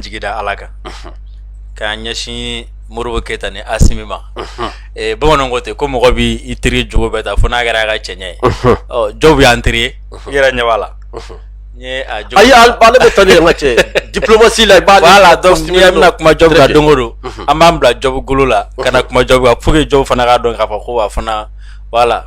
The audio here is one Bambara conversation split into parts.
jigi da ala kan k'a ɲɛsin modibo keyita ni asimi ma eh, bamananw ko ten ko mɔgɔ bɛ i teri jogo bɛɛ ta fo n'a kɛra a ka cɛɲɛ ye ɔ diop y'an teri ye i yɛrɛ ɲɛ b'a la n ye a jɔ ayi al- ale bɛ taa ni an ka cɛ ye. diplomasi la voilà donc ni an bɛna kuma diop kan don o don an b'an bila diop golo la ka na kuma diop kan pour que diop fana k'a dɔn k'a fɔ ko a fana voilà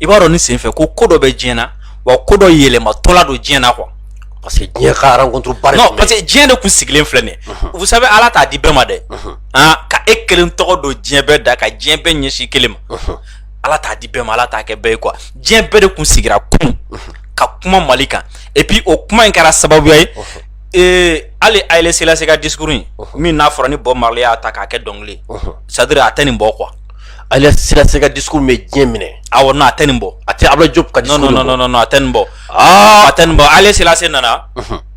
i b'a dɔn ni senfɛ ko ko dɔ bɛ diɲɛ na wa ko dɔ yɛlɛmatɔla don diɲɛ na quoi parce que diɲɛ ka rencontre ba de non parce que diɲɛ de kun sigilen filɛ nin vous savez ala t'a di bɛɛ ma dɛ han ka e kelen tɔgɔ don diɲɛ bɛɛ da ka diɲɛ bɛɛ ɲɛsin kelen ma ala t'a di bɛɛ ma ala t'a kɛ bɛɛ ye quoi diɲɛ bɛɛ de kun sigira kunun ka kuma mali kan et puis o kuma in kɛra sababuya ye ee hali haile selassie ka discours in min n'a fɔra ni bob marley y'a ta k'a kɛ dɔnkili c'est-à-dire a tɛ nin bɔ quoi haile selassie ka discours bɛ diɲɛ minɛ awɔ non a tɛ nin bɔ a tɛ abdoulaye diop ka discours non a tɛ nin bɔ a tɛ nin bɔ haile selassie nana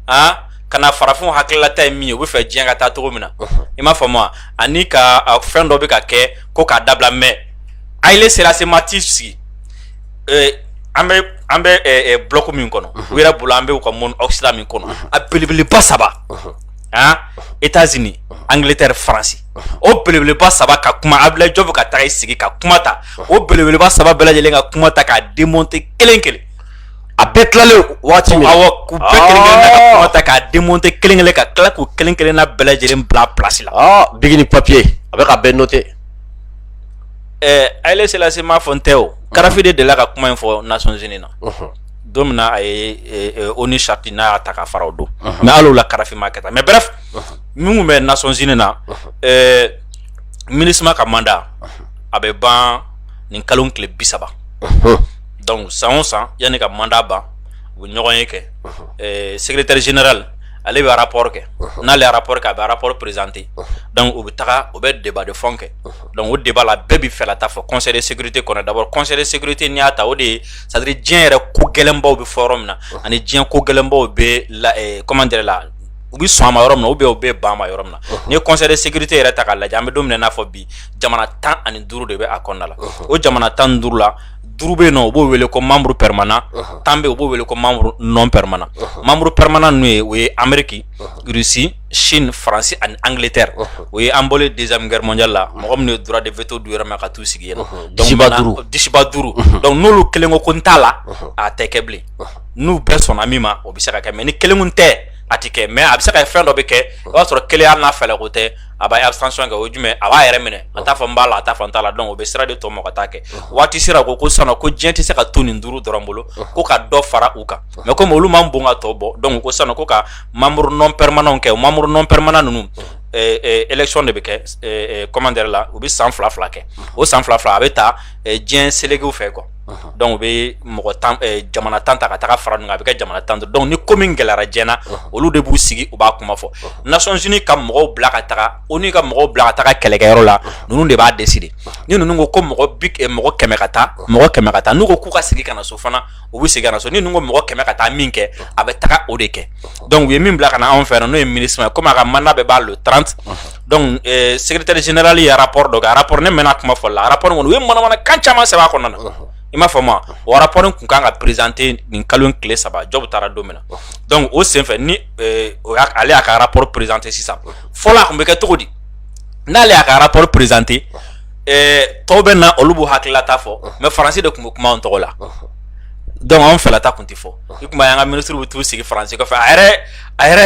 aa ka na farafin hakilila ta ye min ye u bɛ fɛ diɲɛ ka taa cogo min na i m'a faamu wa ani ka fɛn dɔ bɛ ka kɛ ko k'a dabila mais haile selassie ma t'i sigi an bɛ an bɛ bloc min kɔnɔ u yɛrɛ bolo an bɛ u ka monde occident min kɔnɔ a belebeleba saba aa états-unis angiletɛ faransi o belebeleba saba ka kuma abdoulaye diop ka taa i sigi ka kuma ta o belebeleba saba bɛɛ lajɛlen ka kuma ta k'a démonter kelen kelen a bɛɛ tilalen waati min awɔ k'u bɛɛ kelen kelen na ka kuma ta k'a démonter kelen kelen ka tila k'u kelen kelen na bɛɛ lajɛlen bila plasi la biki ni papiye a bɛ k'a bɛɛ noter ɛɛ haile selassie m'a fɔ n tɛ o kadafi de delila ka kuma in fɔ nations unies na don min na a ye onu charte n'a y'a ta k'a fara o don mais hali o la kadafi m'a kɛ tan mais bref minnu bɛ nasonc na mini ka manda a bɛ ban ni kalo tile bi saba dɔnku san san yanni ka manda ban u bɛ ɲɔgɔn ye kɛ sɛgɛrɛ teri zinarali ale bɛ arap kɛ n'ale arap kɛ a bɛ arap perezte u bɛ taga u bɛ deba de fɔ kɛ dɔnku o deba la bɛɛ bɛ fɛ ta fɔ kɔnɛ sete kɔnɔ dabɔ kɔnɛ sete ni y'a ta o de ye sadiri diɲɛ yɛrɛ ko gɛlɛnbaw bɛ fɔ yɔrɔ min na ani diɲɛ ko gɛlɛnbaw bɛ la kɔman la u bɛ sɔn a ma yɔrɔ min ou bien u bɛ ban a ma yɔrɔ min na n'i ye conseil de sécurité yɛrɛ ta k'a lajɛ an bɛ don min na i n'a fɔ bi jamana tan ani duuru de bɛ a kɔnɔna la o jamana tan ni duuru la duuru bɛ yen u b'o wele ko membre permanent tan bɛ yen u b'o wele ko membre non permanent membre permanent ninnu o ye amérique russie chine faransi ani angiletɛ o ye an bɔlen deuxième guerre mondiale la mɔgɔ minnu ye droit de veto d'u yɛrɛ ma ka t'u sigi yen dusuba duuru dɔnku n'olu kelen ko ko n t'a la a tɛ kɛ bilen n'u bɛɛ sɔnna min ma o bɛ se ka kɛ mais ni kelen tɛ a tɛ kɛ mais a bɛ se ka fɛn dɔ bɛ kɛ o y'a sɔrɔ kelen hali n'a fɛlɛ ko tɛ a bɛ abstention kɛ o jumɛn a b'a yɛrɛ minɛ a t'a fɔ n b'a la a t'a fɔ n t'a la donc o bɛ sira de tɔ mɔgɔ ka taa kɛ waati sera ko ko sisan ko diɲɛ tɛ se ka to nin duuru dɔrɔn bolo ko ka dɔ fara u kan mais comme olu man bon ka tɔ bɔ donc ko sisan ko ka membre non permanent kɛ o membre non permanent ninnu élection de bɛ kɛ comment dire la u bɛ san fila fila kɛ o san fila fila a bɛ taa diɲɛ selekew fɛ quoi donc u bɛ mɔgɔ jamana tan ta ka taa fara a bɛ kɛ jamana tan donc ni ko min gɛlɛyara diɲɛ na olu de b'u sigi u b'a kuma fɔ Nations Unies ka mɔgɔw bila ka taga ONU ka mɔgɔw bila ka taga kɛlɛkɛyɔrɔ la ninnu de b'a décider ni ninnu ko ko mɔgɔ mɔgɔ kɛmɛ ka taa mɔgɔ kɛmɛ ka taa n'u ko k'u ka segin ka na so fana u bɛ segin ka na so ni ninnu ko mɔgɔ kɛmɛ ka taa min kɛ a bɛ taga o de kɛ donc u ye min bila ka na anw fɛ yan n'o ye MINUSMA ye ko a ka mandat bɛ ban le trente donc eh, secrétaire général ye rapport dɔ kɛ a rapport ne mɛnna kuma fɔli la a rapport kɔni u ye manamanakan caman sɛbɛn a kɔnɔna na uh-huh. i m'a faamu o rapport in kun kan ka présenter nin kalo in tile saba Diop taara don min na uh-huh. donc o senfɛ ni eh, o y'a ale y'a ka rapport présenter sisan uh-huh. fɔlɔ a kun bɛ kɛ cogo di n'ale y'a ka rapport présenter eh, tɔw bɛ na olu b'u hakililata fɔ mais faransi de tun bɛ kuma an tɔgɔ la donc anw fɛlata tun tɛ fɔ i tun b'a ye an ka ministre bɛ t'u sigi faransi kɔfɛ a yɛrɛ a yɛrɛ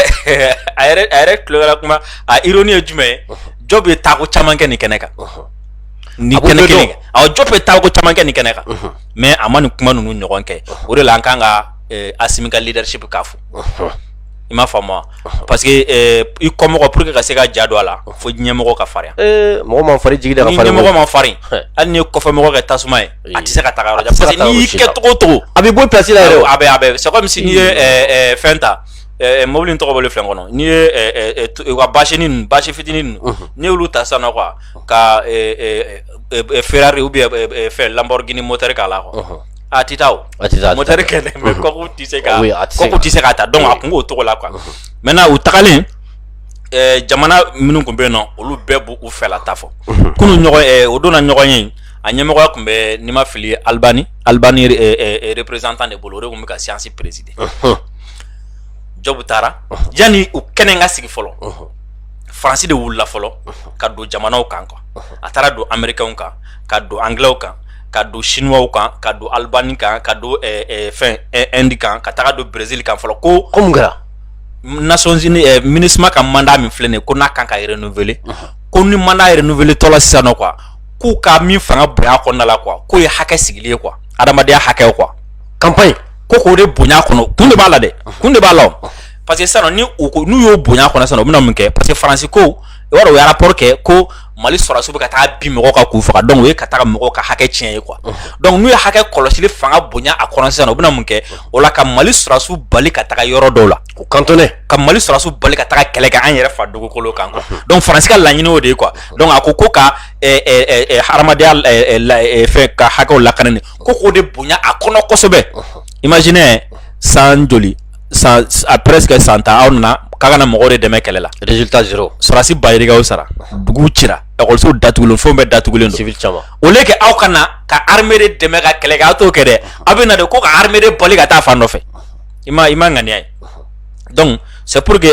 a yɛrɛ a yɛrɛ tulo kɛra kuma a ironie ye jumɛn ye Diop ye taako caman kɛ nin kɛnɛ kan ni kɛnɛ kelen kan awɔ Diop ye taako caman kɛ nin kɛnɛ kan mais a ma nin kuma ninnu ɲɔgɔn kɛ o de la an kan ka eh, Asimi ka leadership k'a fo i m'a faamu wa parce que eh, i kɔmɔgɔ pour que ka se ka ja don a la fo ɲɛmɔgɔ ka farinya ee mɔgɔ ma farin jigi da ka farin ni ɲɛmɔgɔ ma farin hali n'i ye kɔfɛmɔgɔ kɛ tasuma ye a tɛ se ka taga yɔrɔ jan parce que n'i y'i kɛ cogo o cogo a bɛ bɔ place la yɛrɛ a bɛ a bɛ c'est comme si n'i ye ɛɛ fɛn ta ɛɛ mobili in tɔgɔ bɔlen filɛ n kɔnɔ n'i ye ɛɛ ɛɛ u ka basini ninnu basi fitinin ninnu n'i y'olu ta sisan nɔ quoi ka ɛɛ ɛɛ Ferrari ou bien ɛɛ fɛn Lamborghini moteur k'a la quoi a tɛ taa o a tɛ taa moteur kɛlɛ mais kɔkɔ tɛ se ka kɔkɔ tɛ se k'a ta donc a kun b'o cogo la quoi maintenant u tagalen ɛɛ jamana minnu tun bɛ yen nɔ olu bɛɛ b'u u fɛla ta fɔ kunu ɲɔgɔn ɛɛ o donna ɲɔgɔn ye a ɲɛmɔgɔya kun bɛ ni n ma fili alibani alibani représentant de bolo o de kun bɛ ka séance présider Diop taara yanni u kɛnɛ ka sigi fɔlɔ faransi de wulila fɔlɔ ka don jamanaw kan quoi a taara don amerikɛnw kan ka don angilɛw kan ka don siniwaw kan ka don alibani kan ka don fɛn Inde kan ka taga don berezili kan fɔlɔ ko mun kɛra Nations Unies MINUSMA ka mandat min filɛ nin ko n'a kan ka renouveler ko ni mandat renouveler tɔla sisan nɔ quoi k'u ka min fanga bonya kɔnɔna la quoi k'o ye hakɛ sigilen ye quoi adamadenya hakɛ quoi campagne ko k'o de bonya kɔnɔ kun de b'a la dɛ kun de b'a la parce que sisan ni u ko n'u y'o bonya kɔnɔ sisan u bɛna mun kɛ parce que faransi ko i b'a dɔn u ye rapport kɛ ko mali sɔrɔdasiw bɛ ka taa bin mɔgɔw kan k'u faga donc o ye ka taga mɔgɔw ka hakɛ tiɲɛ ye quoi donc n'u ye hakɛ kɔlɔsili fanga bonya a kɔnɔ sisan u bɛna mun kɛ o la ka mali sɔrɔdasiw bali ka taga yɔrɔ dɔw la U cantonner ka mali sɔrɔdasiw bali ka taa kɛlɛ kɛ an yɛrɛ fa dugukolo kan donc Faransi ka laɲini o de ye quoi donc a ko ko ka hadamadenya fɛn ka hakɛ lakana ko k'o de bonya a kɔnɔ kosɛbɛ imaginez san joli san a presque san tan aw nana k'a kana mɔgɔ de dɛmɛ kɛlɛ la sɔrɔdasi ba yirikaw sara duguw cira lakɔlisow datugulen fɛn bɛɛ datugulen au lieu que aw ka na ka armée de dɛmɛ ka kɛlɛ kɛ aw t'o kɛ dɛ aw bɛ na de ko ka armée de bali ka taa fan dɔ fɛ i ma i ma ŋaniya ye donc c'est pour que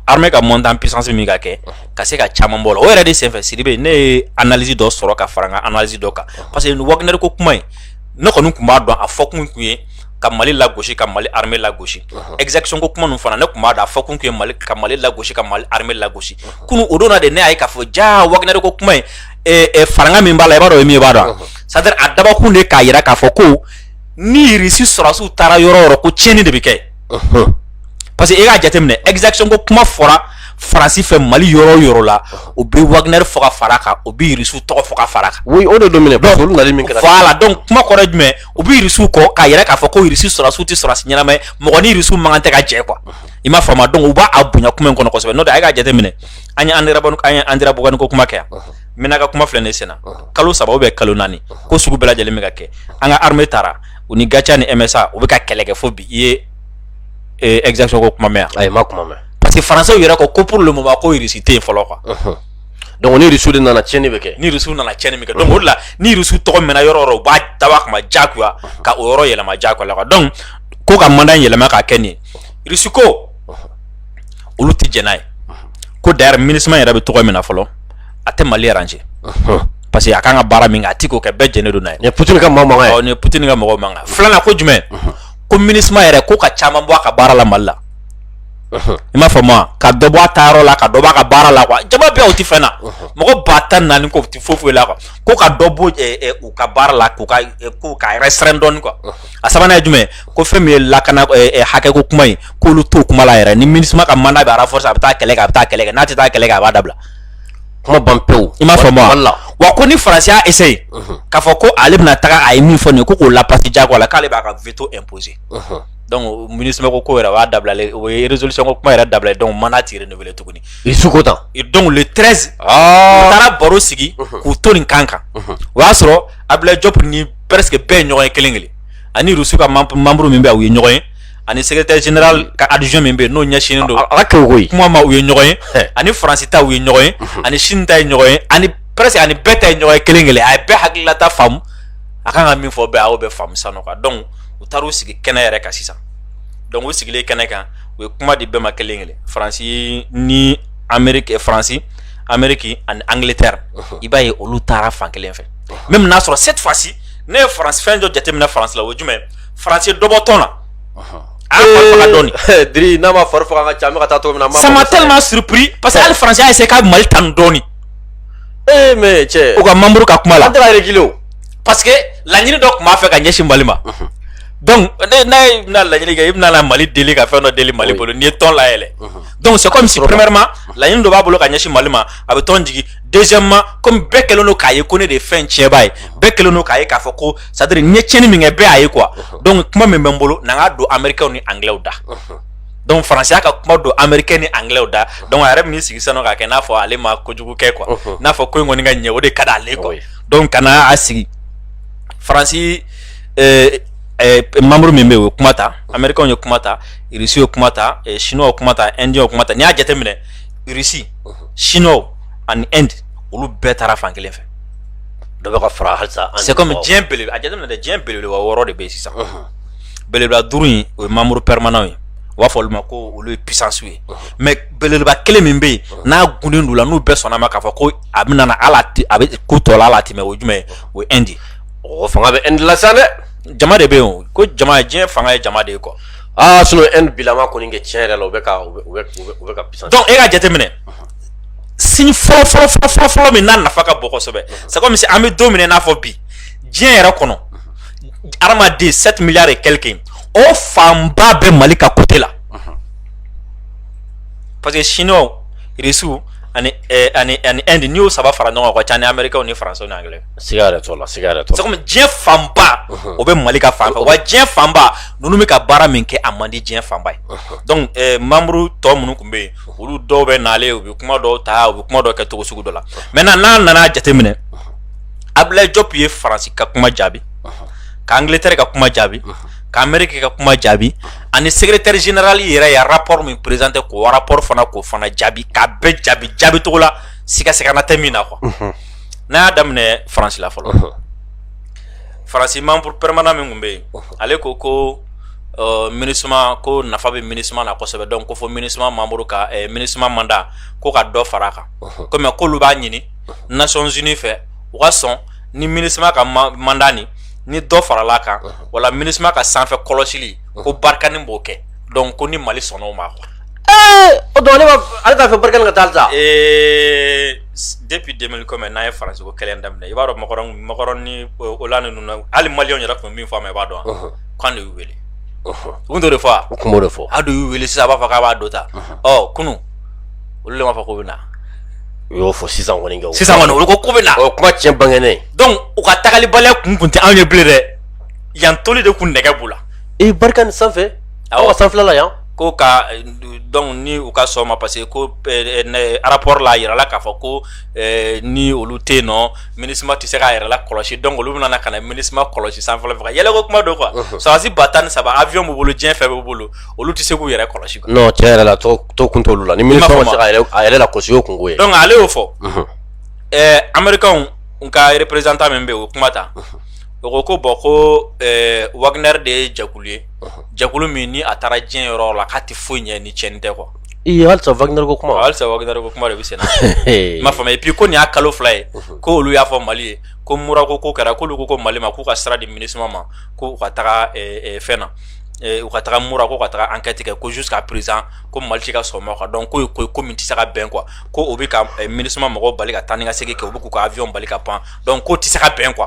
armée ka monter en puissance min ka kɛ ka se ka caman bɔ la o yɛrɛ de senfɛ Sidibe ne ye analyse dɔ sɔrɔ ka fara n ka analyse dɔ kan parce que nin Wagner ko kuma in ne kɔni tun b'a dɔn a fɔkun tun ye ka Mali lagosi ka Mali armée lagosi exaction ko kuma ninnu fana ne tun b'a dɔn a fɔkun tun ye Mali ka Mali lagosi ka Mali armée lagosi kunu o don na de ne y'a ye k'a fɔ jaa Wagner ko kuma in faranga min b'a la i b'a dɔn o ye min ye i b'a dɔn wa c'est à dire a dabɔkun de ye k'a jira k'a fɔ ko ni Irisi sɔrɔdasiw taara yɔrɔ o yɔrɔ ko tiɲɛni de bɛ kɛ parce que i k'a jateminɛ exaction ko kuma fɔra Faransi fɛ mali yɔrɔ o yɔrɔ la u bɛ Wagner fɔ ka fara a kan u bɛ Irisiw tɔgɔ fɔ ka fara a kan voilà donc kuma kɔrɔ ye jumɛn u bɛ Irisiw kɔ k'a yira k'a fɔ ko Irisi sɔrɔdasiw tɛ sɔrɔdasi ɲɛnama ye mɔgɔ ni Irisiw man kan tɛ ka jɛ quoi i m'a faamu donc u b'a bonya kuma in kɔnɔ kosɛbɛ n'o tɛ a y'a jateminɛ an ye Anderamboukane ko kuma kɛ yan Menaka kuma filɛ nin sen na kalo saba ou bien kalo naani ko sugu bɛɛ lajɛlen bɛ ka kɛ an ka armée taara u ni GATIA ni MSA u bɛ ka kɛlɛ kɛ fo bi i ye exaction ko kuma mɛn a ma kuma mɛn parce que Françaisw yɛrɛ ko ko pour le moment ko irisi tɛ yen fɔlɔ quoi donc ni Irisiw de nana tiɲɛni bɛ kɛ ni Irisiw nana tiɲɛni kɛ donc o de la ni Irisiw tɔgɔ mɛnna yɔrɔ o yɔrɔ u b'a dabɔ a kama jagoya ka o yɔrɔ yɛlɛma jagoya la donc ko ka mandat yɛlɛma ka kɛ nin ye Irisi ko olu tɛ jɛn n'a ye ko d'ailleurs MINUSMA yɛrɛ bɛ cogo min na fɔlɔ a tɛ mali arranger parce que a ka kan ka baara min kɛ a tɛ k'o kɛ bɛɛ jɛnnen don n'a ye Poutine ka mɔgɔ ye Poutine ka mɔgɔ mankan filanan ko jumɛn ko MINUSMA yɛrɛ ko ka caman bɔ a ka baara la mali la i m'a faamu wa ka dɔ bɔ a taayɔrɔ la ka dɔ b'a ka baara la quoi jama bɛɛ o tɛ fɛn na mɔgɔ ba tan ni naani k'o tɛ foyi foyi la quoi ko ka dɔ bɔ u ka baara la k'u ka k'u ka restreindre dɔɔni quoi a sabanan ye jumɛn ko fɛn min ye lakana hakɛko kuma ye k'olu t'o kuma la yɛrɛ ni MINUSMA ka mandat bɛ renforcer a bɛ taa kɛlɛ kɛ a bɛ taa kɛlɛ kɛ n'a tɛ taa kɛlɛ kɛ a b'a dabila kuma ban pewu i m'a faamu wa wa ko ni faransi y'a essayer mhm. k'a fɔ ko ale bɛna taga a ye min fɔ nin ye ko k'o lapasi jagoya la k'ale b'a ka veto imposer mhm. donc MINUSMA ko ko yɛrɛ b'a dabilalen o ye résolution ko kuma yɛrɛ dabilalen donc mandat ti renouveler tuguni Irisi ko tan donc le 13 ah. u taara baro sigi mhm. k'u to nin kan kan o y'a sɔrɔ abdulaye jɔp ni presque bɛɛ ye ɲɔgɔn ye kelen kelen ani Russie ka membre min bɛ yen u ye ɲɔgɔn ye ani secrétaire général ka adjoint min bɛ yen n'o ɲɛsinnen don ala kɛ ko kuma ma u ye ɲɔgɔn ye ani faransi ta u ye ɲɔgɔn ye ani Chine ta ye ɲɔgɔn ye ani presque ani bɛɛ ta ye ɲɔgɔn ye kelen kelen a ye bɛɛ hakililata faamu a kan ka min fɔ bɛɛ a y'o bɛɛ faamu sisan nɔ donc u taara u sigi kɛnɛ yɛrɛ kan sisan donc u sigilen kɛnɛ kan u ye kuma di bɛɛ ma kelen kelen faransi ni Améri faransi Amérique ani Angleterre i b'a ye olu taara fan kelen fɛ mais i bɛn'a sɔrɔ cette fois-ci ne ye fɛn dɔ jateminɛ faransi la o jumɛn faransi ye dɔ bɔ tɔn na n'a ma fari faga ka ca taa min na ça m'a tellement surpris parce que hali faransi y'a essayé ka mali tanu dɔɔnin ee mais cɛ u ka membre ka kuma la kelen parce que laɲini dɔ tun b'a fɛ ka ɲɛsin mali ma donc ni e bɛna laɲini kɛ i bɛna mali deli ka fɛn dɔ deli mali bolo n'i ye tɔn layɛlɛn donc c'est comme si premièrement laɲini dɔ b'a bolo ka ɲɛsin mali ma a bɛ tɔn jigin deuxièmement comme bɛɛ kɛlen don k'a ye ko ne de ye fɛn tiɲɛba ye bɛɛ kɛlen don k'a ye k'a fɔ ko c'est à dire n ye tiɲɛni min kɛ bɛɛ y'a ye quoi donc kuma min bɛ n bolo na n k'a don américains ni anglais da donc faransi y'a ka kuma don américain ni anglais da donc a yɛrɛ bɛn'i sigi sisan k'a kɛ n'a fɔ ale ma kojugu kɛ quoi n'a fɔ ko in kɔni ka ɲɛ o de ka d'ale quoi donc ka na a sigi faransi euh, euh, membre min bɛ yen o ye kuma ta américains ye kuma ta irisiw ye kuma ta chinois ye kuma ta indiens ye kuma ta n'i y'a jateminɛ irisi chinois ani Inde olu bɛɛ taara fan kelen fɛ dɔ bɛ ka fara halisa c'est comme diɲɛ bele a jateminɛ dɛ diɲɛ belebeleba wɔɔrɔ de bɛ yen sisan belebeleba duuru in o ye membres permanents ye u b'a fɔ olu ma ko olu ye puissances ye mais belebeleba kelen min bɛ yen n'a gunnen don u la n'u bɛɛ sɔnna ma k'a fɔ ko a bɛ nana ala a bɛ ko tɔ la a latɛmɛ o jumɛn o ye Inde o fanga bɛ Inde la sa dɛ jama de bɛ yen ko jama diɲɛ fanga ye jama de ye quoi Aa sinon inde bilama kɔni kɛ tiɲɛ yɛrɛ la, u bɛ ka u bɛ u bɛ ka puissance donc e ka jateminɛ, unhun, signe fɔlɔ fɔlɔ fɔlɔ fɔlɔ min n'a nafa ka bon kosɛbɛ, unhun, c'est comme si an bɛ don min na i n'a fɔ bi, diɲɛ yɛrɛ kɔnɔ, unhun, hadamaden 7 milliards et quelques o fanba bɛ Mali ka côté la, unhun, parce que chinois, russes ani ɛ ani ani inde n'i y'o saba fara ɲɔgɔn kan, o ka ca ni américains ni français ni anglais siga yɛrɛ t'o la siga yɛrɛ t'o la c'est comme diɲɛ fanba o bɛ Mali ka fan fɛ wa diɲɛ fanba ninnu bɛ ka baara min kɛ a man di diɲɛ fanba ye donc eh, membre tɔ minnu tun bɛ yen olu dɔw bɛ nalen u bɛ kuma dɔw ta u bɛ kuma dɔw kɛ cogo sugu dɔ la maintenant n'a nana jateminɛ Abdoulaye Diop ye Faransi ka kuma jaabi ka Angleterre ka kuma jaabi ka Amérique ka kuma jaabi ani secrétaire général yɛrɛ ye rapport min présenté k'o rapport fana k'o fana jaabi k'a bɛɛ jaabi jaabi cogo la siga sigana tɛ min na quoi n'an y'a daminɛ faransi la fɔlɔ faransi membre permanent min tun bɛ yen ale ko ko minusma ko nafa bɛ minusma na kosɛbɛ donc ko fo minusma membre ka minusma mandat ko ka dɔ fara a kan kɔmi ko olu b'a ɲini nations unies fɛ u ka sɔn ni minusma ka mandat nin ni dɔ farala kan wala minusma ka sanfɛ kɔlɔsili ko barkhane b'o kɛ donc ko ni mali sɔnna o ma quoi ale t'a fɛ barkhane ka taa halisa depuis deux mille comme an ye faransi ko kɛlɛ daminɛ i b'a dɔn macron ni hollande ninnu hali maliyɛnw yɛrɛ tun bɛ min fɔ a ma i b'a dɔn k'an de y'u weele u tun t'o de fɔ wa u tun b'o de fɔ an de y'u weele sisan a b'a fɔ k'a b'a dɔn ta ɔ kunun olu de m'a fɔ k'u bɛ na u y'o fɔ sisan kɔni sisan kɔni olu ko k'u bɛ na o kuma tiɲɛ bangenen donc u ka taalibaliya kun tun tɛ anw ye bilen dɛ yan toli de tun nɛgɛ b'u la i barkhane sanfɛ aw ka sanfɛla la yan ko ka donc ni u ka sɔn ma parce que ko rapport la a yirala k'a fɔ ko ni olu tɛ yen nɔ minusma tɛ se k'a yɛrɛ la kɔlɔsi donc olu bɛna ka na minusma kɔlɔsi sanfɛla fɛ ka yɛlɛko kuma don quoi sɔrɔdasi ba tan ni saba avion b'u bolo diɲɛ fɛn b'u bolo olu tɛ se k'u yɛrɛ kɔlɔsi tiɲɛ yɛrɛ la to kun t'olu la ni minusma ma se k'a yɛrɛ la kɔlɔsi o kunko ye donc ale y'o fɔ amerikɛnw ka représentant min bɛ o kuma ta o ko ko bɔn ko wagner de ye jɛkulu ye jɛkulu min ni a taara diɲɛ yɔrɔ la k'a tɛ foyi ɲɛ ni tiɲɛni tɛ quoi halisa wagner ko kuma halisa wagner ko kuma de bɛ sen na i m'a faamu et puis ko nin y'a kalo fila ye ko olu y'a fɔ mali ye ko mura ko kɛra k'olu ko mali ma k'u ka sira di minusma ma ko u ka taga fɛn na u ka taga mura ko ka taga enquête kɛ ko jusqu'à présent ko mali tɛ ka sɔn a ma quoi donc ko ko ko min tɛ se ka bɛn quoi ko o bɛ ka minusma mɔgɔw bali ka taa ni ka segin kɛ u bɛ k'u ka avion bali ka pan donc k'o tɛ se ka bɛn quoi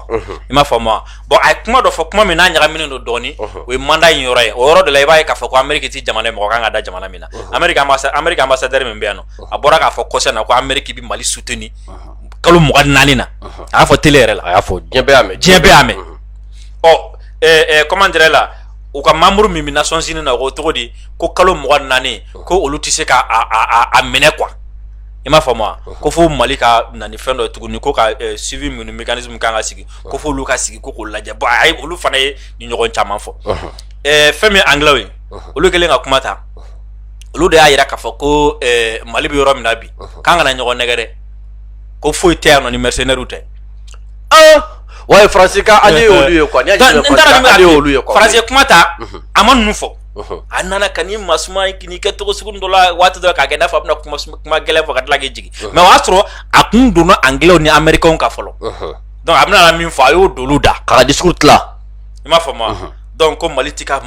i m'a faamu wa bɔn a ye kuma dɔ fɔ kuma min n'a ɲagaminen don dɔɔni o ye manda in yɔrɔ ye o yɔrɔ de la i b'a ye k'a fɔ ko ameriki ti jamana ye mɔgɔ kan ka da jamana min na ameriki ambasadɛri min bɛ yan nɔ a bɔra k'a fɔ kɔsa in na ko ameriki bi mali soutenir kalo mugan naani na a y'a fɔ tele yɛrɛ la a y'a fɔ diɲɛ bɛɛ y'a mɛn diɲɛ bɛɛ y'a mɛn ɔ comment dirais la u ka membre min bɛ nations unies na o cogo di ko kalo mugan naani ko olu tɛ se ka a minɛ quoi i m'a faamu ko fo mali ka na ni fɛn dɔ ye tuguni ko ka suivi minnu mécanisme kan ka sigi ko fo olu ka sigi ko k'o lajɛ bɔn a ye olu fana ye nin ɲɔgɔn caman fɔ fɛn min ye angilɛw ye olu kɛlen ka kuma ta olu de y'a yira k'a fɔ ko mali bɛ yɔrɔ min na bi k'an kana ɲɔgɔn nɛgɛn dɛ ko foyi tɛ yan nɔ ni mɛsɛnɛriw tɛ wa faransi ka ale y'olu ye quoi faransi kuma ta a ma ninnu fɔ a nana ka ni masuma k'i kɛ cogo sugu dɔ la waati dɔ k'a kɛ n'a fɔ a bɛna kuma gɛlɛn fɔ ka tila k'i jigin mais o y'a sɔrɔ a kun donna angilɛw ni amerikɛnw ka fɔlɔ donc a bɛna min fɔ a y'o dɔlu da k'a ka discours tila i m'a faamu wa donc ko mali tɛ ka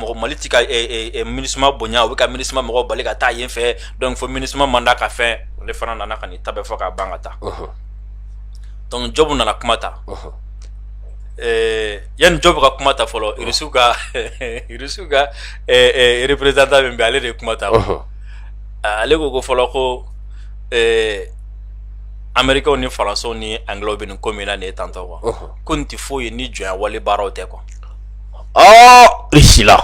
minusma bonya u bɛ ka minusma mɔgɔw bali ka taa yen fɛ donc fo minusma mandat ka fɛn ale fana nana ka nin ta bɛɛ fɔ k'a ban ka taa donc jɔbu nana kuma ta yanni jɔbu ka kuma ta fɔlɔ irisiw ka irisiw ka représentant min bɛ ale de ye kuma ta ale ko ko fɔlɔ ko amerikɛnw ni faransɛw ni angilɛw bɛ nin ko min na nin ye tantɔ quoi ko nin tɛ foyi ye ni jɔnya wale baaraw tɛ quoi irisila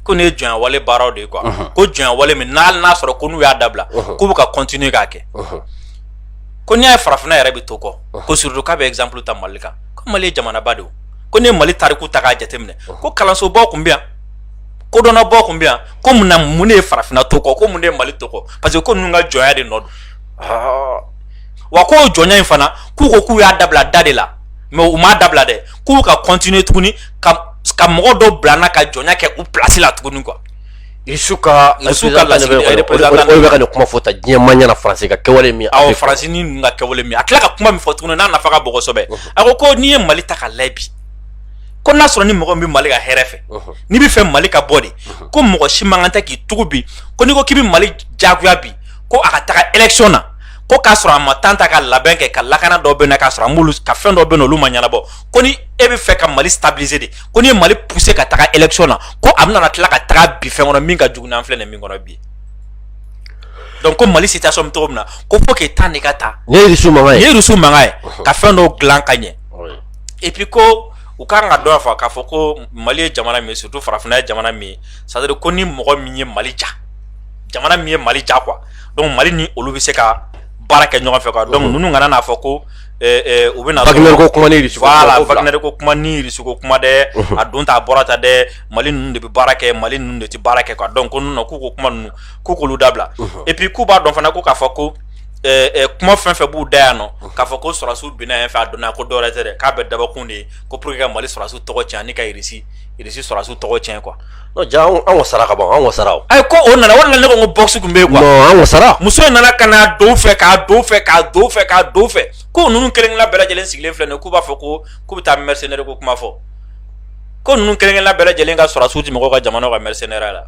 ko nin ye jɔnya wale baaraw de ye quoi ko jɔnya wale min n'a n'a sɔrɔ ko n'u y'a dabila k'u bɛ ka continuer k'a kɛ ko n'i y'a ye farafinna yɛrɛ bɛ to kɔ ko surtout k'a bɛ exemple ta mali kan ko mali ye jamanaba de ye ko ne mali tariku ta k'a jateminɛ ko kalansobaw tun bɛ yan kodɔnnabaw tun bɛ yan ko mun na mun de ye farafinna to kɔ ko mun de ye mali to kɔ parce que ko ninnu ka jɔnya de nɔ don wa ko o jɔnya in fana k'u ko k'u y'a dabila da de la mais u m'a dabila dɛ k'u ka continuer tuguni ka ka mɔgɔ dɔ bila n na ka jɔnya kɛ u place la tuguni quoi Rusu ka la ka nin kuma fɔ tan diɲɛ ma ɲina faransi ka kɛwale min awɔ faransi ni ninnu ka kɛwale min a tila ka kuma min fɔ tuguni n'a nafa ka bon kosɛbɛ a ko ko n'i ye mali ta k'a lajɛ bi ko n'a sɔrɔ ni mɔgɔ bɛ mali ka hɛrɛ fɛ n'i bɛ fɛ mali ka bɔ de ko mɔgɔ si man kan tɛ k'i tugu bi ko n'i ko k'i bɛ mali jagoya bi ko a ka taga election na ko k'a sɔrɔ a ma temps ta ka labɛn kɛ ka lakana dɔ bɛ na k'a sɔrɔ a ka fɛn dɔ bɛ yen olu ma ɲɛnabɔ ko ni e bɛ fɛ ka mali stabiliser de ko n'i ye mali pousser ka taga election na ko a bɛna tila ka taga bin fɛn kɔnɔ min ka jugu n'an filɛ nin min kɔnɔ bi donc ko mali situation bɛ cogo min na ko faut que temps de ka ta nin ye rusu mankan ye ka fɛn dɔw dilan ka ɲɛ et puis ko u ka kan k'a dɔn fana k'a fɔ ko mali ye jamana min ye surtout farafinna ye jamana min ye c'est à dire ko ni mɔgɔ min ye mali diya jamana min ye mali diya quoi donc mali ni olu bɛ se ka baara kɛ ɲɔgɔn fɛ quoi donc ninnu kana n'a fɔ ko U bɛna wagner ko kuma ni irisi ko kuma dɛ a don tan a bɔra tan dɛ mali ninnu de bɛ baara kɛ mali ninnu de tɛ baara kɛ quoi donc ko ninnu k'u ko kuma ninnu k'u k'olu dabila et puis k'u b'a dɔn fana ko k'a fɔ ko kuma fɛn fɛn b'u da yan nɔ k'a fɔ ko sɔrɔsiw binna yen fɛ a donna ko dɔwɛrɛ tɛ dɛ k'a bɛɛ dabɔkun de ye ko pour que ka mali sɔrɔsiw tɔgɔ cɛn ani ka irisi sɔrɔsiw tɔgɔ cɛn quoi ja an wasara ka ban an wasara o ayi ko o nana o nana ne ko ko box kun bɛ yen quoi non an wasara muso in nana ka na don fɛ ko ninnu kelen kelenna bɛɛ lajɛlen sigilen filɛ nin ye k'u b'a fɔ ko k'u bɛ taa mercenaire ko kuma fɔ ko ninnu kelen kelenna bɛɛ lajɛlen ka sɔrɔdasiw tɛ mɔgɔw ka jamana ka mercenaire la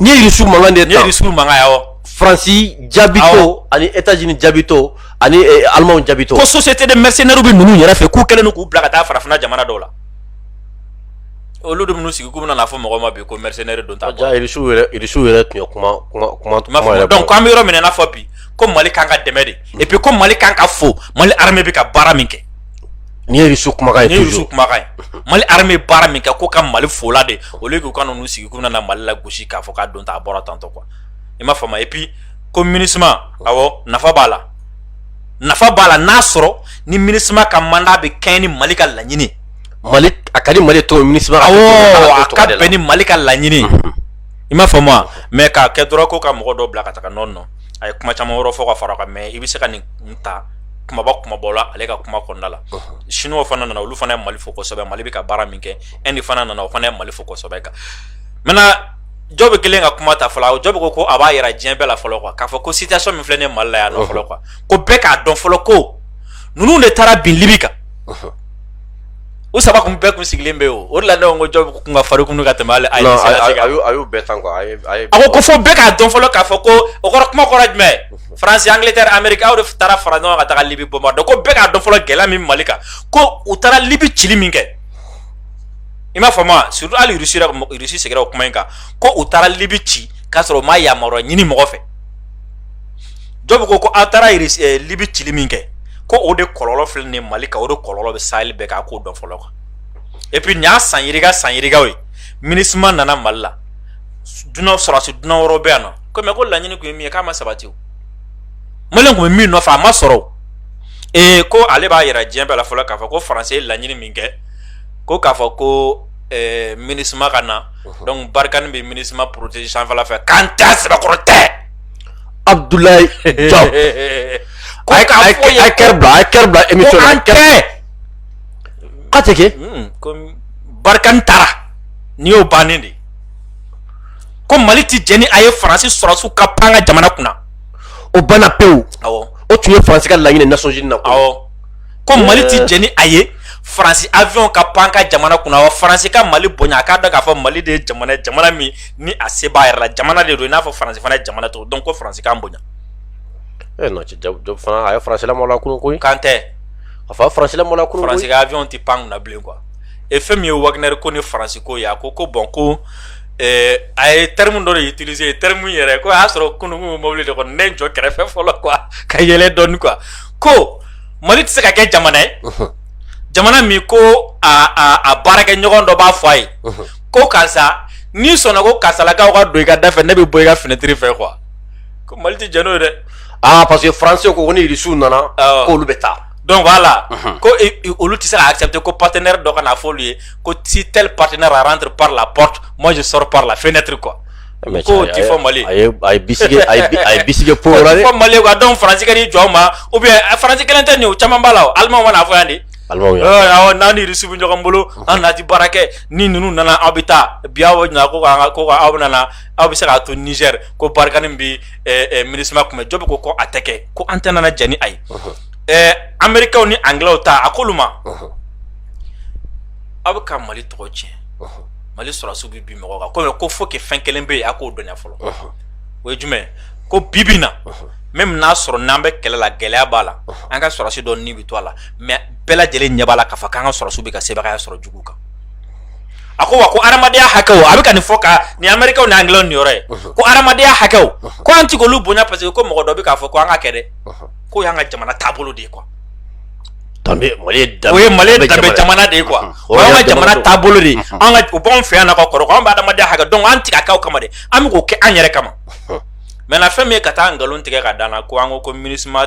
nin ye irisiw mankan de ye nin ye irisiw mankan ye awɔ faransi jaabitɔ ani etazini jaabitɔ ani eh, alimanw jaabitɔ ko société de mercenaires bɛ ninnu yɛrɛ fɛ k'u kɛlen don k'u bila ka taa farafinna jamana dɔw la olu de minnu sigi k'u bɛna n'a fɔ mɔgɔ ma bi ko mercenaire don ta quoi irisiw yɛrɛ irisiw yɛrɛ tun ye kuma kuma kuma kuma yɛrɛ donc an bɛ yɔrɔ min na i n'a fɔ bi ko mali kan ka dɛmɛ de et puis ko mali kan ka fo mali armée bɛ ka baara min kɛ ni ye irisiw kumakan ye ni ye irisiw kumakan ye mali armée bɛ baara min kɛ ko ka mali fola de au lieu k'u ka n'u sigi k'u bɛna na mali lagosi k'a fɔ k'a don ta a bɔra tantɔ quoi i m'a faamu et puis ko minisima awɔ nafa b'a la nafa b'a la n'a sɔrɔ ni minisima ka mandat bɛ kɛɲɛ ni mali ka laɲini mali a ka di mali tɔw mini a ka bɛn ni mali ka laɲini i m'a faamu wa mais k'a kɛ dɔrɔn ko ka mɔgɔ dɔw bila ka taga nɔ nɔ a ye kuma caman wɛrɛ fɔ ka fara kan mais i bɛ se ka nin ta kumaba kumaba la ale ka kuma kɔnɔna la siniw fana nana olu fana ye mali fo kosɛbɛ mali bɛ ka baara min kɛ Inde fana nana o fana ye mali fo kosɛbɛ kan maintenant Diop kelen ka kuma ta fɔlɔ Diop ko ko a b'a yira diɲɛ bɛɛ la fɔlɔ quoi k'a fɔ ko situation min filɛ nin ye mali la yan nɔ fɔlɔ quoi ko bɛɛ k'a dɔn fɔlɔ ko ninnu de taara bin libi kan u saba kun bɛɛ kun sigilen bɛ yen o la ne ko Diop kun ka farin kun ka tɛmɛ ale a y'u bɛɛ tan a ko ko fo bɛɛ k'a dɔn fɔlɔ k'a fɔ ko o kɔrɔ kuma kɔrɔ jumɛn faransi Angleterre Amérique aw de taara fara ɲɔgɔn kan ka taa libi bombarder ko bɛɛ k'a dɔn fɔlɔ gɛlɛya min mali kan ko u taara libi cili min kɛ i m'a faamu wa surtout hali irisi segira o kuma in kan ko u taara libi ci k'a sɔrɔ u ma yamaruya ɲini mɔgɔ fɛ Diop ko ko aw taara libi cili min kɛ ko o de kɔlɔlɔ filɛ nin ye Mali kan o de kɔlɔlɔ bɛ sahel bɛɛ kan a k'o dɔn fɔlɔ quoi et puis nin y'a san yirika san yirikaw ye MINUSMA nana Mali la dunan sɔrɔdasi dunan wɛrɛw bɛ yan nɔ ko mais ko laɲini tun ye min ye k'a ma sabati o Maliyɛn tun bɛ min nɔfɛ a ma sɔrɔ o ee ko ale b'a yira diɲɛ bɛɛ la fɔlɔ k'a fɔ ko faransi ye laɲini min kɛ ko k'a fɔ ko ɛɛ MINUSMA ka na donc barikani bɛ MINUSMA protéger sanfɛla fɛ k'an t'a sɛbɛkɔrɔ tɛ Abdoulaye Diop a ye a ye kɛrɛ bila a ye kɛrɛ bila émission a ye kɛrɛ bila k'a tɛ kɛ comme barikani taara n'i y'o bannen de ko mali ti jɛn ni a ye faransi sɔrɔsiw ka pan ka jamana kunna o banna pewu awɔ o tun ye faransi ka laɲini nations unies na awɔ ko mali ti jɛn ni a ye faransi avion ka pan ka jamana kunna wa faransi ka mali bonya a k'a dɔn k'a fɔ mali de ye jamana ye jamana min ni a se b'a yɛrɛ la jamana de don i n'a fɔ faransi fana ye jamana to donc ko faransi k'an bonya e non Diop fana a ye faransi lamɔla kunu koyi kan tɛ a fa faransi lamɔla kunu faransi ka avion tɛ pan kunna bilen quoi et fɛn min ye wagner ko ni faransi ko ye a ko ko bon ko eh, a ye terme dɔ de utiliser terme yɛrɛ ko a y'a sɔrɔ kunun kun bɛ mobili de kɔnɔ ne jɔ kɛrɛfɛ fɔlɔ quoi ka yɛlɛ dɔɔni quoi ko mali tɛ se ka kɛ jamana ye jamana min ko a a a baarakɛ ɲɔgɔn dɔ b'a fɔ a ye ko karisa n'i sɔnna ko karisalakaw ka don i ka da fɛ ne bɛ bɔ i ka finɛtiri fɛ quoi ko mali tɛ jɛn n'o ye dɛ aa parce que faransi ko ko ni irisiw nana k'olu bɛ taa donc voilà mhm. ko olu tɛ se ka accepter ko partenaire dɔ ka na fɔ olu ye ko si tel partenaire rentre par la porte moi je sors par la fenêtre quoi k'o ti fɔ mali a ye bisige a ye bisige po la ti fɔ mali quoi donc faransi ka n'i jɔ o ma ou bien faransi kelen tɛ nin o caman b'a la o allemand ma n'a fɔ yan de n'an ni irisiw bɛ ɲɔgɔn bolo an na ti baara kɛ ni ninnu nana aw bɛ taa bi aw ko aw bɛ aw bɛ se ka to niger ko barikani bɛ MINUSMA kunbɛn jɔ bɛ ko ko a tɛ kɛ ko an tɛ nana jɛn ni a ye amerikaw ni angilɛw ta a ko olu ma aw bɛ ka mali tɔgɔ tiɲɛ mali sɔrɔsiw bɛ bin mɔgɔ kan ko fo fɛn kelen bɛ yen a k'o dɔn fɔlɔ o ye jumɛn ko bi bi in na même n'a sɔrɔ n'an bɛ kɛlɛla gɛlɛya b'a la an ka sɔrɔsi dɔ ni bɛ to a la mais bɛɛ lajɛlen ɲɛ b'a la k'a fɔ k'an ka sɔrɔsiw bɛ ka sebagaya sɔrɔ jugu kan a ko wa ko adamadenya hakɛw a bɛ ka nin fɔ ka nin amerikaw ni angilɛw nin yɔrɔ ye ko adamadenya hakɛw ko an ti k'olu bonya parce que ko mɔgɔ dɔ bɛ k'a fɔ ko an ka kɛ dɛ k'o y'an ka jamana taabolo de ye quoi danbe mali ye danbe o ye mali ye danbe jamana de ye quoi o y'an ka jamana taabolo de ye an ka o b'anw fɛ yan na ka kɔrɔ an bɛ adamadenya hakɛ donc an ti k'a k'aw kama dɛ an bɛ k'o kɛ an yɛrɛ kama maintenant fɛn min ye ka taa nkalon tigɛ ka d'an na ko an ko ko minisma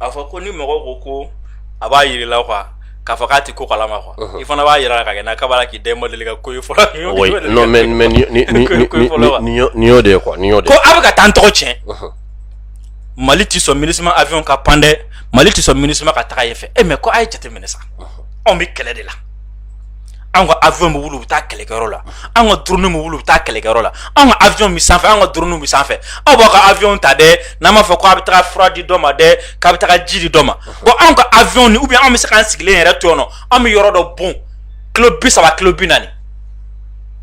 a fɔ ko ni mɔgɔ ko ko a b'a jir'i la quoi k'a fɔ k'a tɛ ko kalama quoi i fana b'a jir'a la ka kɛ kaba k'i de ma deli ka ko ye fɔlɔ y'o de quoi y'o ko aw bɛ ka t'an tɔgɔ tiɲɛ mali tɛ sɔn MINUSMA avion ka pan dɛ mali tɛ sɔn MINUSMA ka taga yen fɛ e mais ko a ye jate minɛ sa anw bɛ kɛlɛ de la anw ka avion bɛ wuli u bɛ taa kɛlɛkɛyɔrɔ la anw ka drone bɛ wuli u bɛ taa kɛlɛkɛyɔrɔ la anw ka avion bɛ sanfɛ anw ka drone bɛ sanfɛ aw b'aw ka avion ta dɛ n'an b'a fɔ ko a bɛ taga fura di dɔ ma dɛ k'a bɛ taga ji di dɔ ma bon anw ka avion ni ou bien anw bɛ se k'an sigilen yɛrɛ to yen nɔ anw bɛ yɔrɔ dɔ bon kilo bi saba kilo bi naani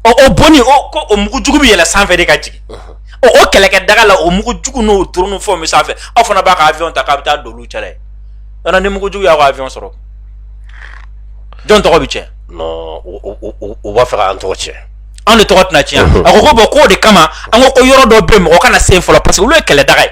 ɔ o bonni o ko o mugu jugu bɛ yɛlɛ sanfɛ de ka jigin ɔ o kɛlɛkɛ daga la o mugu jugu n'o drone fɛnw bɛ sanfɛ aw fana b'a ka avion ta k'a bɛ taa don olu cɛla yen yɔrɔ ni mugu jugu y'aw ka avion sɔrɔ jɔn tɔgɔ bɛ tiɲɛ non u b'a fɛ k'an tɔgɔ tiɲɛ anw de tɔgɔ tɛna tiɲɛ a ko ko bon k'o de kama an ko ko yɔrɔ dɔ bɛ yen mɔgɔ kana se yen fɔlɔ parce que olu ye kɛlɛdaga ye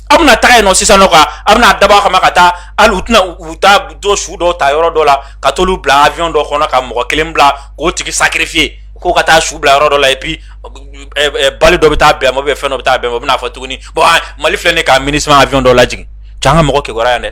aw bɛna taga yen nɔ sisan nɔ ka aw bɛna dabɔ a kama ka taa hali u tɛna u taa dɔ su dɔw ta yɔrɔ dɔ la ka t'olu bila avion dɔ kɔnɔ ka mɔgɔ kelen bila k'o tigi sacrifier k'o ka taa su bila yɔrɔ dɔ la et puis bali dɔ bɛ taa bɛn ma ou bien fɛn dɔ bɛ taa bɛn ma u bɛna fɔ tuguni bon mali filɛ nin ye ka MINUSMA avion dɔ lajigin cɛ an ka mɔgɔ kibaruya yan dɛ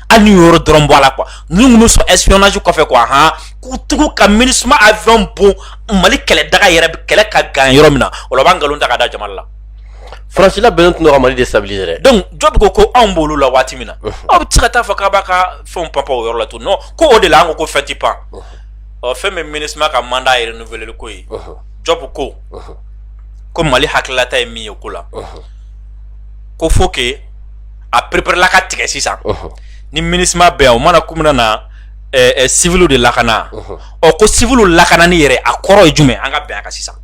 hali n'o yɔrɔ dɔrɔn bɔ a la quoi n'u tun bɛ sɔn espionnage kɔfɛ quoi han k'u tugu ka MINUSMA avion bon mali kɛlɛ daga yɛrɛ kɛlɛ ka gan yɔrɔ min na o la u b'a nkalon ta ka da jamana la. faransi labɛnnen tun don ka mali déstabiliser dɛ. donc Diop ko ko anw b'olu la waati min na aw bɛ se ka taa fɔ k'a b'a ka fɛnw panpan o yɔrɔ la tun non ko o de la an ko ko fɛn ti pan ɔ fɛn min MINUSMA ka mandat yɛrɛ renouveler ko ye Diop ko ko mali hakililata ye min ye ko la ko faut que a pereperela ka tigɛ sisan ni MINUSMA bɛ yan o mana k'u nana civil de lakana ɔ ko civil lakanani yɛrɛ a kɔrɔ ye jumɛn an ka bɛn a kan sisan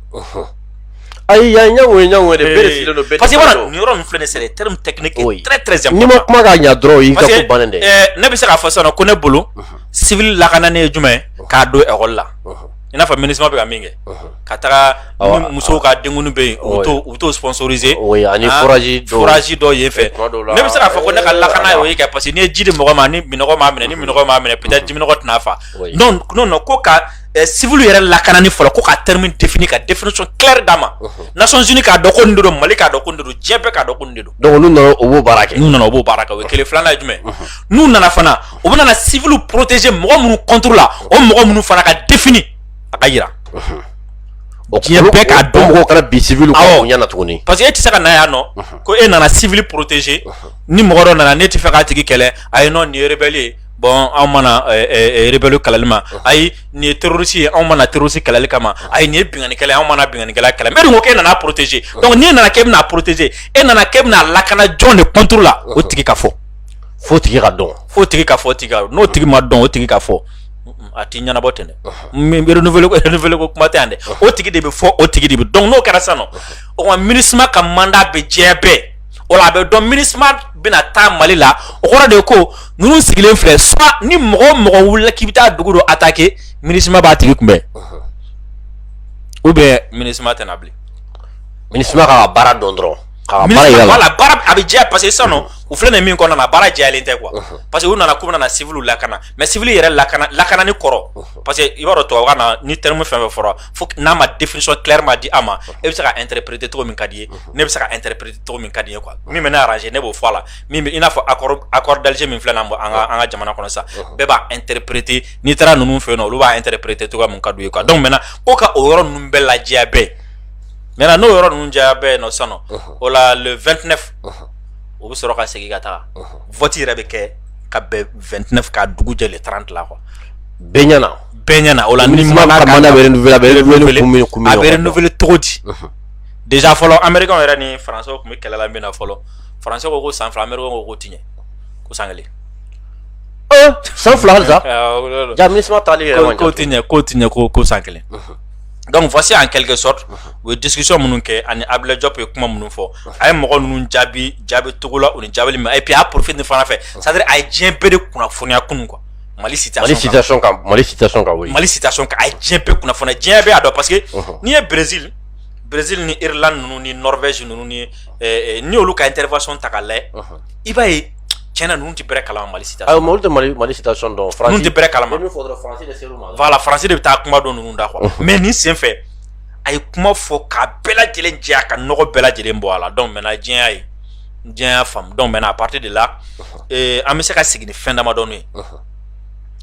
ayi yan ɲɛ ɲɛ parce que yɔrɔ min filɛ nin c'est des termes techniques très important n'i ma kuma ka ɲɛ dɔrɔn dɛ ne bɛ se k'a fɔ sisan ko ne bolo civil lakanani ye jumɛn k'a don école la i n'a fɔ MINUSMA bɛ ka min kɛ ka taga ni musow ka denkundi bɛ yen u bɛ t'o sponsoriser ani forage dɔ yen fɛ ne bɛ se k'a fɔ ko ne ka lakana y'o ye kɛ parce que n'i ye ji di mɔgɔ ma ni minɔgɔ m'a minɛ ni minɔgɔ m'a minɛ peut-être jiminɔgɔ tɛna a faga non non non ko ka civil yɛrɛ lakanani fɔlɔ ko ka terme défini ka définition claire d'a ma Nations Unies k'a dɔn ko nin de don Mali k'a dɔn ko nin de don diɲɛ bɛɛ k'a dɔn ko nin de don donc n'u nana u b'o baara kɛ n'u nana u b'o baara kɛ o ye kelen ye filanan ye jumɛn ye n'u nana fana u bɛna na civil protéger mɔgɔ minnu contre la o mɔgɔ minnu fana ka défini a ka yira diɲɛ bɛɛ k'a dɔn mɔgɔw kana bin civil kan bonya na tuguni parce que e tɛ se ka na yan nɔ ko e nana civil protéger ni mɔgɔ dɔ nana n'e t'a fɛ k'a tigi kɛlɛ ayi non nin ye rebelle ye bon anw ma na rebelle kɛlɛli ma ayi nin ye terroriste ye anw ma na terroriste kɛlɛli kama ayi nin ye binkannikɛla ye anw ma na binkannikɛla kɛlɛ mais e dun ko k'e nana protéger donc n'e nana k'e bɛna protéger e nana k'e bɛna lakana jɔn de contre la o tigi ka fɔ f'o tigi ka dɔn f'o tigi ka fɔ tigi n'o tigi ma dɔn o tigi ka fɔ a ti ɲɛnabɔ ten dɛ renouveler ko kuma tɛ yan dɛ o tigi de bɛ fɔ o tigi de bɛ dɔn n'o kɛra sisan nɔ o kuma MINUSMA ka mandat bɛ jɛya bɛɛ o la a bɛ dɔn MINUSMA bɛna taa mali la o kɔrɔ de ko ninnu sigilen filɛ soit ni mɔgɔ o mɔgɔ wulila k'i bɛ taa dugu dɔ attaquer MINUSMA b'a tigi kunbɛn ou bien MINUSMA tɛna bilen MINUSMA ka baara dɔn dɔrɔn a bɛ jɛ parce que sanu u filɛ nin min kɔnɔna na baara jɛlen tɛ kuwa parce que u nana k'u nana sivw lakana mɛ siv yɛrɛ lakana lakana ni kɔrɔ parce que i b'a dɔn to ka na ni terire min fɛn fɛ fɔlɔ fo n'a ma defisɔn kiri ma di a ma e bɛ se ka n terirepere perete cogo min ka di ye ne bɛ se ka n terirepere perete cogo min ka di ye kuwa min bɛ ne arase ne b'o fɔ a la min i n'a fɔ akɔrɔ dalisi min filɛ na bɔ an an ka jamana kɔnɔ sa bɛɛ b'a n terirepere perete n'i taara ninnu fɛ yen olu b'a n terirepere perete cogo min ka ye kuwa dɔw mɛn ko ka o yɔrɔ ninnu bɛɛ lajɛ bɛɛ mɛ n'o yɔrɔ ninnu diya bɛɛ yen nɔ sa o la 2tinɛ o bɛ sɔrɔ ka segin ka taa fti yɛrɛ bɛ kɛ ka bɛnt ka dugu jɛ tan dilan kɔ bɛɛyana bɛɛyana o la ni bɛele cogo di dez fɔlɔ anmeri yɛrɛ ni faran tun bɛ kɛlɛla min na fɔlɔ faran ko ko san fila anmeri ko ko tiɲɛ ko san kelen san fila ja tɛ ko ko ko san kelen dɔnku fɔsi an kɛlɛkɛ sɔ u ye disisɔn minnu kɛ ani abilajɔp ye kuma minnu fɔ a ye mɔgɔ ninnu jaabi jaabi cogo la u ni jaabi ma api y'a porofin ni fana fɛ sa a ye diɲɛ bereere kunnafoniya kun kuwa mali si mali si mali si a diɲɛ bɛ kunnafoni diɲɛ bɛ' dɔn parce que n'i ye berez berez nila ninnu ni nɔfɛz ninnu ni olu ka n teri sɔn ta' la i b'a ye cɛn na ninnu tɛ bɛrɛ kalama Mali situation na, ayi olu tɛ Mali situation dɔn, ninnu tɛ bɛrɛ kalama, n ye min fɔ dɔrɔn Faransi de ser'u ma, voila Faransi de bɛ taa kuma dɔ ninnu da quoi unhun, mais nin senfɛ a ye kuma fɔ k'a bɛɛ lajɛlen jɛya ka nɔgɔ bɛɛ lajɛlen bɔ a la donc maintenant diɲɛ y'a ye, diɲɛ y'a faamu donc maintenant à partir de là ee an bɛ se ka sigi ni fɛn damadɔni ye, unhun,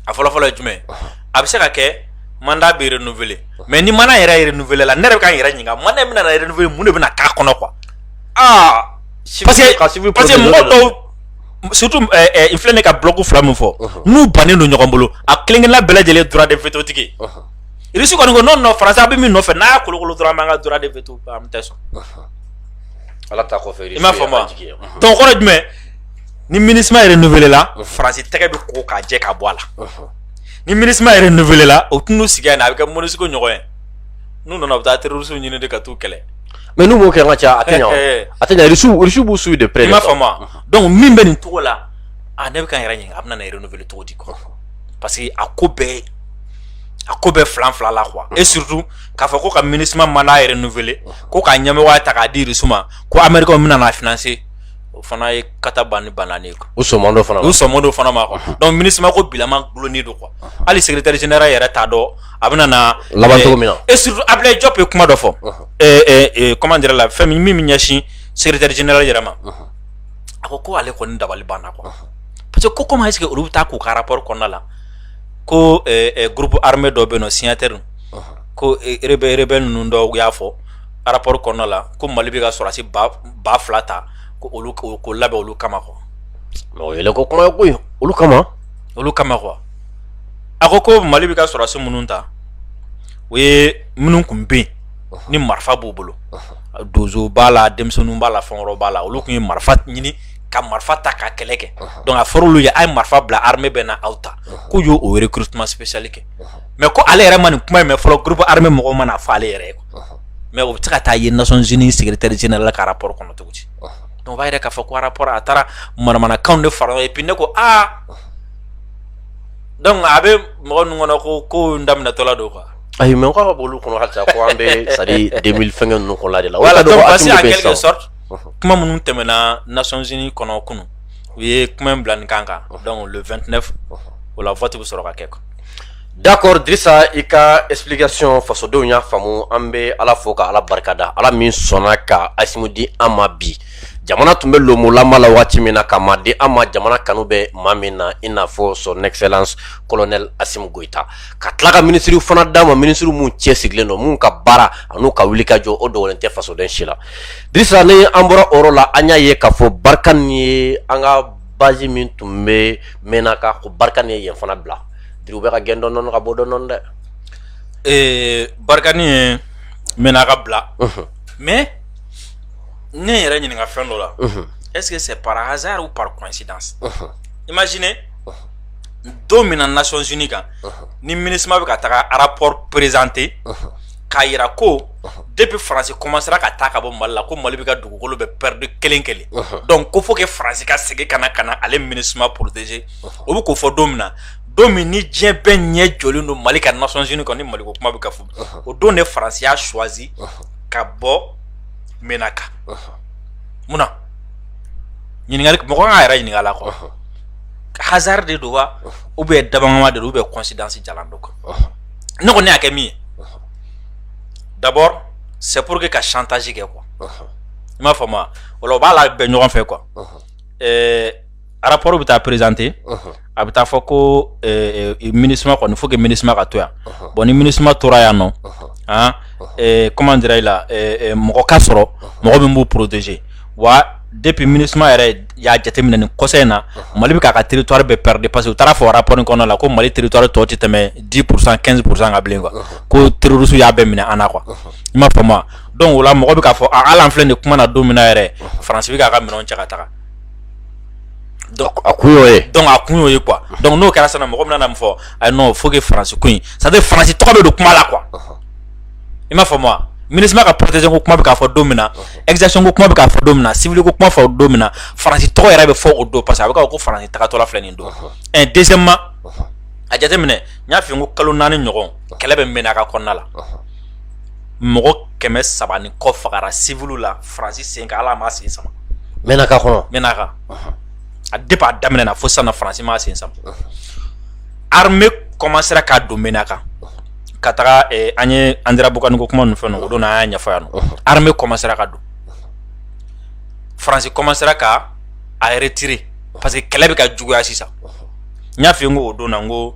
a fɔlɔ fɔlɔ ye jumɛn ye, unhun, a bɛ se ka kɛ mandat bɛ renouveler mais ni mandat yɛrɛ renouveler la ne yɛrɛ bɛ ka n yɛrɛ ɲininka mandat in bɛna na renouveler mun de bɛna k'a kɔnɔ quoi aa parce que parce que mɔgɔ dɔw surtout ɛɛ eh, eh, n filɛ nin ka bloc fila min fɔ uh-huh. n'u bannen don ɲɔgɔn bolo a kelen-kelenna bɛɛ lajɛlen droit de veto tigi uh-huh. irisi kɔni ko non non faransi a bɛ min nɔfɛ n'a y'a kolokolo dɔrɔn an b'an ka droit de veto an tɛ sɔn uh-huh. ala ta kɔfɛ irisi i m'a faamu wa donc kɔrɔ jumɛn ni MINUSMA yɛrɛ renouvelé la faransi tɛgɛ bɛ ko ka jɛ ka bɔ a la ni MINUSMA yɛrɛ renouvelé la o tun n'u sigi yan a bɛ kɛ MONUSCO ɲɔgɔn ye n'u nana bɛ taa teriurusu ɲini de ka taa kɛlɛ mɛ n'u b'o kɛ ka ca a tɛ a tɛsu b'u su de pe ma fa dɔnku min bɛ nin cogo la a ne bɛ ka yɛrɛ ɲini a bɛna yɛrɛ nfiri cogo di kɔrɔ parce que a ko bɛɛ a ko bɛɛ filan fila la qu e surutu k'a fɔ ko ka mini ma n'a yɛrɛ nfele ko k'a ɲamɛ ta k'a disu ma ko anmeri bɛna n'a fse o fana ye kata ban ni ban ye o so fana o so fana ma dɔnku mini ko bilama dulonin don kuwa hali sɛteri yɛrɛ t'a dɔn a bɛ na laban cogo min na et surtout Ablaye Diop ye kuma dɔ fɔ comment dire la fɛn min min bɛ ɲɛsin secrétaire général yɛrɛ ma a ko ko ale kɔni dabali banna quoi parce que ko comment est-ce que olu bɛ taa k'u ka rapport kɔnɔna la ko groupe armé dɔ bɛ yen nɔ signataire ko rebelle ninnu dɔ u y'a fɔ rapport kɔnɔna la ko Mali bɛ ka sɔrɔdasi ba fila ta ko k'o labɛn olu kama quoi mais o yɛlɛko kuma ye koyi olu kama olu kama quoi a ko ko mali bɛ ka sɔrɔdasi minnu ta o ye minnu tun bɛ yen ni marifa b'u bolo donso b'a la denmisɛnninw b'a la fɛn b'a la olu tun ye marifa ɲini ka marifa ta ka kɛlɛ kɛ donc a fɔra olu ye a ye marifa bila armée bɛ na aw ta k'u y'o recrutement spécial kɛ mais ko ale yɛrɛ ma nin kuma in mɛn fɔlɔ groupe armé mɔgɔ ma n'a fɔ ale yɛrɛ ye mais o bɛ se ka taa ye Nations Unies secrétaire général ka rapport kɔnɔ cogo di o b'a yira k'a fɔ ko rapport a taara manamanakanw de fara ɲɔgɔn kan donc a bɛ mɔgɔ ninnu kɔnɔ ko ko in daminɛtɔla don quoi ayi mais k'a ka b'olu kɔnɔ halisa ko an bɛ c'est-à-dire deux mille fɛnkɛ ninnu kɔnɔ de la voilà donc parce que en quelque sorte kuma minnu tɛmɛna Nations Unies kɔnɔ kunun u ye kuma in bila nin kan kan donc le vingt-neuf o la vote bɛ sɔrɔ ka kɛ quoi d'accord Dirisa i ka explication fasodenw y'a faamu an bɛ ala fo ka ala barikada ala min sɔnna ka Assimi di an ma bi jamana tun bɛ lonmolama la waati min na ka maa di an ma jamana kanu bɛ maa min na i n'a fɔ son excellence colonel Assimi Goïta ka tila ka minisiriw fana d'a ma minisiriw minnu cɛsirilen don minnu ka baara an'u ka wuli ka jɔ o dogolen tɛ fasoden si la Dirisa ni an bɔra o yɔrɔ la an y'a ye k'a fɔ Barikani ye an ka bazi min tun bɛ Menaka ko Barikani ye yen fana bila Diri u bɛ ka gɛn dɔɔni dɔɔni ka bɔ dɔɔni dɔɔni dɛ. Ee Barikani ye Menaka bila mais ne yɛrɛ ɲininka fɛn dɔ la est ce que c'est par hasard ou par coïncidence imaginez don min na Nations Unies kan ni MINUSMA bɛ ka taga rapport présenter k'a yira ko depuis France commencera ka taa ka bɔ Mali la ko Mali bɛ ka dugukolo bɛɛ perdre kelen kelen donc ko faut que France ka segin ka na ka na ale MINUSMA protéger o bɛ k'o fɔ don min na don min ni diɲɛ bɛɛ ɲɛ jɔlen don Mali kan Nations Unies kan ni Mali ko kuma bɛ ka fɔ o don de France y'a choisi ka bɔ mɛnna kan munna ɲininkali mɔgɔ kan yɛrɛ ɲininka la kɔ hazari de don wa u bɛ dabama de u bɛ kɔnsidsi jalan dɔ kan ne kɔni ne y'a kɛ min ye dabɔ sɛpuru que ka santasi kɛ kuwa i m'a fɔ ma o b'a la bɛn ɲɔgɔn fɛ kuwa rapport bɛ taa présenter a bɛ taa fɔ ko MINUSMA kɔni faut que MINUSMA ka to yan bon ni MINUSMA tora yan nɔ aa comment dirais-je la mɔgɔ ka sɔrɔ mɔgɔ min b'u protéger wa depuis MINUSMA yɛrɛ y'a jateminɛ nin kɔsa in na mali bɛ k'a ka territoire bɛɛ perdre parce que u taar'a fɔ rapport kɔnɔ la ko mali territoire tɔ tɛ tɛmɛ dix pour cent quinze pour cent kan bilen quoi ko terroristes y'a bɛɛ minɛ an na quoi i m'a faamu donc o la mɔgɔ bɛ k'a fɔ hali an filɛ nin kuma na don min yɛrɛ faransi bɛ k'a ka minɛnw cɛ ka taga a kun ye a kun y'o ye quoi donc n'o kɛra sisan mɔgɔ bɛna a fɔ ayi non faut que faransi ko in c'est à dire faransi tɔgɔ bɛ don kuma la quoi i m'a faamu MINUSMA ka protection ko kuma bɛ k'a fɔ don min na exaction ko kuma bɛ k'a fɔ don min na civil ko kuma fɔ don min na faransi tɔgɔ yɛrɛ bɛ fɔ o don parce que a bɛ k'a fɔ ko faransi tagatɔla filɛ nin don deuxièmement a jateminɛ n y'a f'i ye ko kalo naani ɲɔgɔn kɛlɛ bɛ Menaka kɔnɔna la mɔgɔ kɛmɛ saba ni kɔ fagara civil la faransi sen kan ala ma sen sama Menaka kɔnɔ Menaka a depuis a daminɛ na fo sisan na faransi ma sen sama armée commencera ka don Menaka ka taga eh, an ye Anderamboukane ko kuma ninnu fɛn o don an y'a ɲɛfɔ yan nɔ armée commencera ka don faransi commencera ka a yɛrɛ retirer parce que kɛlɛ bɛ ka juguya sisan n y'a fɔ n ko o don na n ko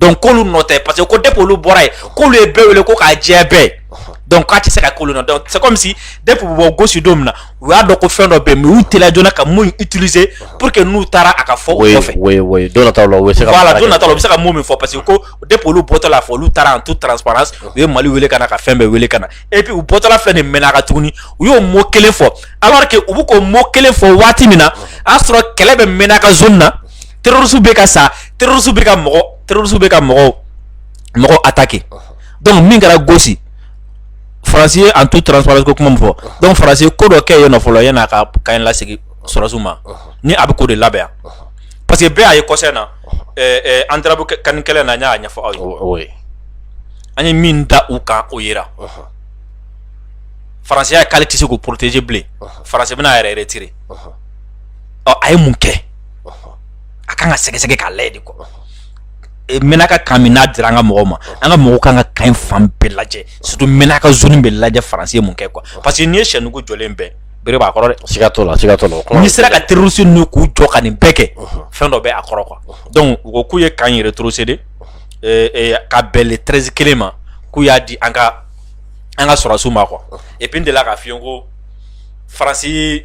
donc k'olu nɔ tɛ parce que ko depuis olu bɔra yen k'olu ye bɛɛ wele ko k'a jɛ bɛɛ donc k'a tɛ se ka k'olu nɔ donc c'est comme si depuis u bɔ gosi don min na u y'a dɔn ko fɛn dɔ bɛ yen mais u teliya joona ka mun utiliser pour que n'u taara a ka fɔ u kɔfɛ oui oui don nataw la u bɛ se ka voilà don nataw la u bɛ se ka mun min fɔ parce que ko depuis olu bɔtɔ la fɔ olu taara en toute transparence u ye Mali wele ka na ka fɛn bɛɛ wele ka na et puis u bɔtɔla filɛ nin Menaka tuguni u y'o mot kelen fɔ alors que u bɛ k'o mot kelen fɔ waati min na a y'a sɔrɔ kɛlɛ bɛ Menaka zone na terroristes bɛ ka sa terroristes bɛ ka mɔgɔ terroristes bɛ ka mɔgɔw mɔgɔw attaquer donc min kɛra gosi faransi ye en toute transparence ko kuma min fɔ donc faransi ye ko dɔ kɛ yen nɔ fɔlɔ yanni a ka camp in lasegin sɔrɔsiw ma ni a bɛ k'o de labɛn yan parce que bɛɛ y'a ye kɔsa in na ɛɛ ɛɛ Anderamboukane kɛlɛ na n y'a ɲɛfɔ aw ye an ye min da u kan o yera faransi y'a ye k'ale tɛ se k'u protéger bilen faransi bɛna a yɛrɛ retirer ɔ a ye mun kɛ. a kan ka sɛgɛsɛgɛ k'a lajɛ de quoi e, Menaka camp min n'a dira an ka mɔgɔw ma an ka mɔgɔw kan ka camp in fan bɛɛ lajɛ surtout Menaka zone bɛɛ lajɛ faransi ye mun kɛ quoi parce que n'i ye sɛ nugu jɔlen bɛɛ bere b'a kɔrɔ dɛ siga t'o la siga t'o la n'i sera ka terroriste ninnu k'u jɔ ka nin bɛɛ kɛ fɛn dɔ bɛ a kɔrɔ quoi donc u ko k'u ye camp in rétrocéder e, e, ka bɛn le 13 kelen ma k'u y'a di an ka an ka sɔrɔdasiw ma quoi et puis n delila k'a f'i ye ko faransi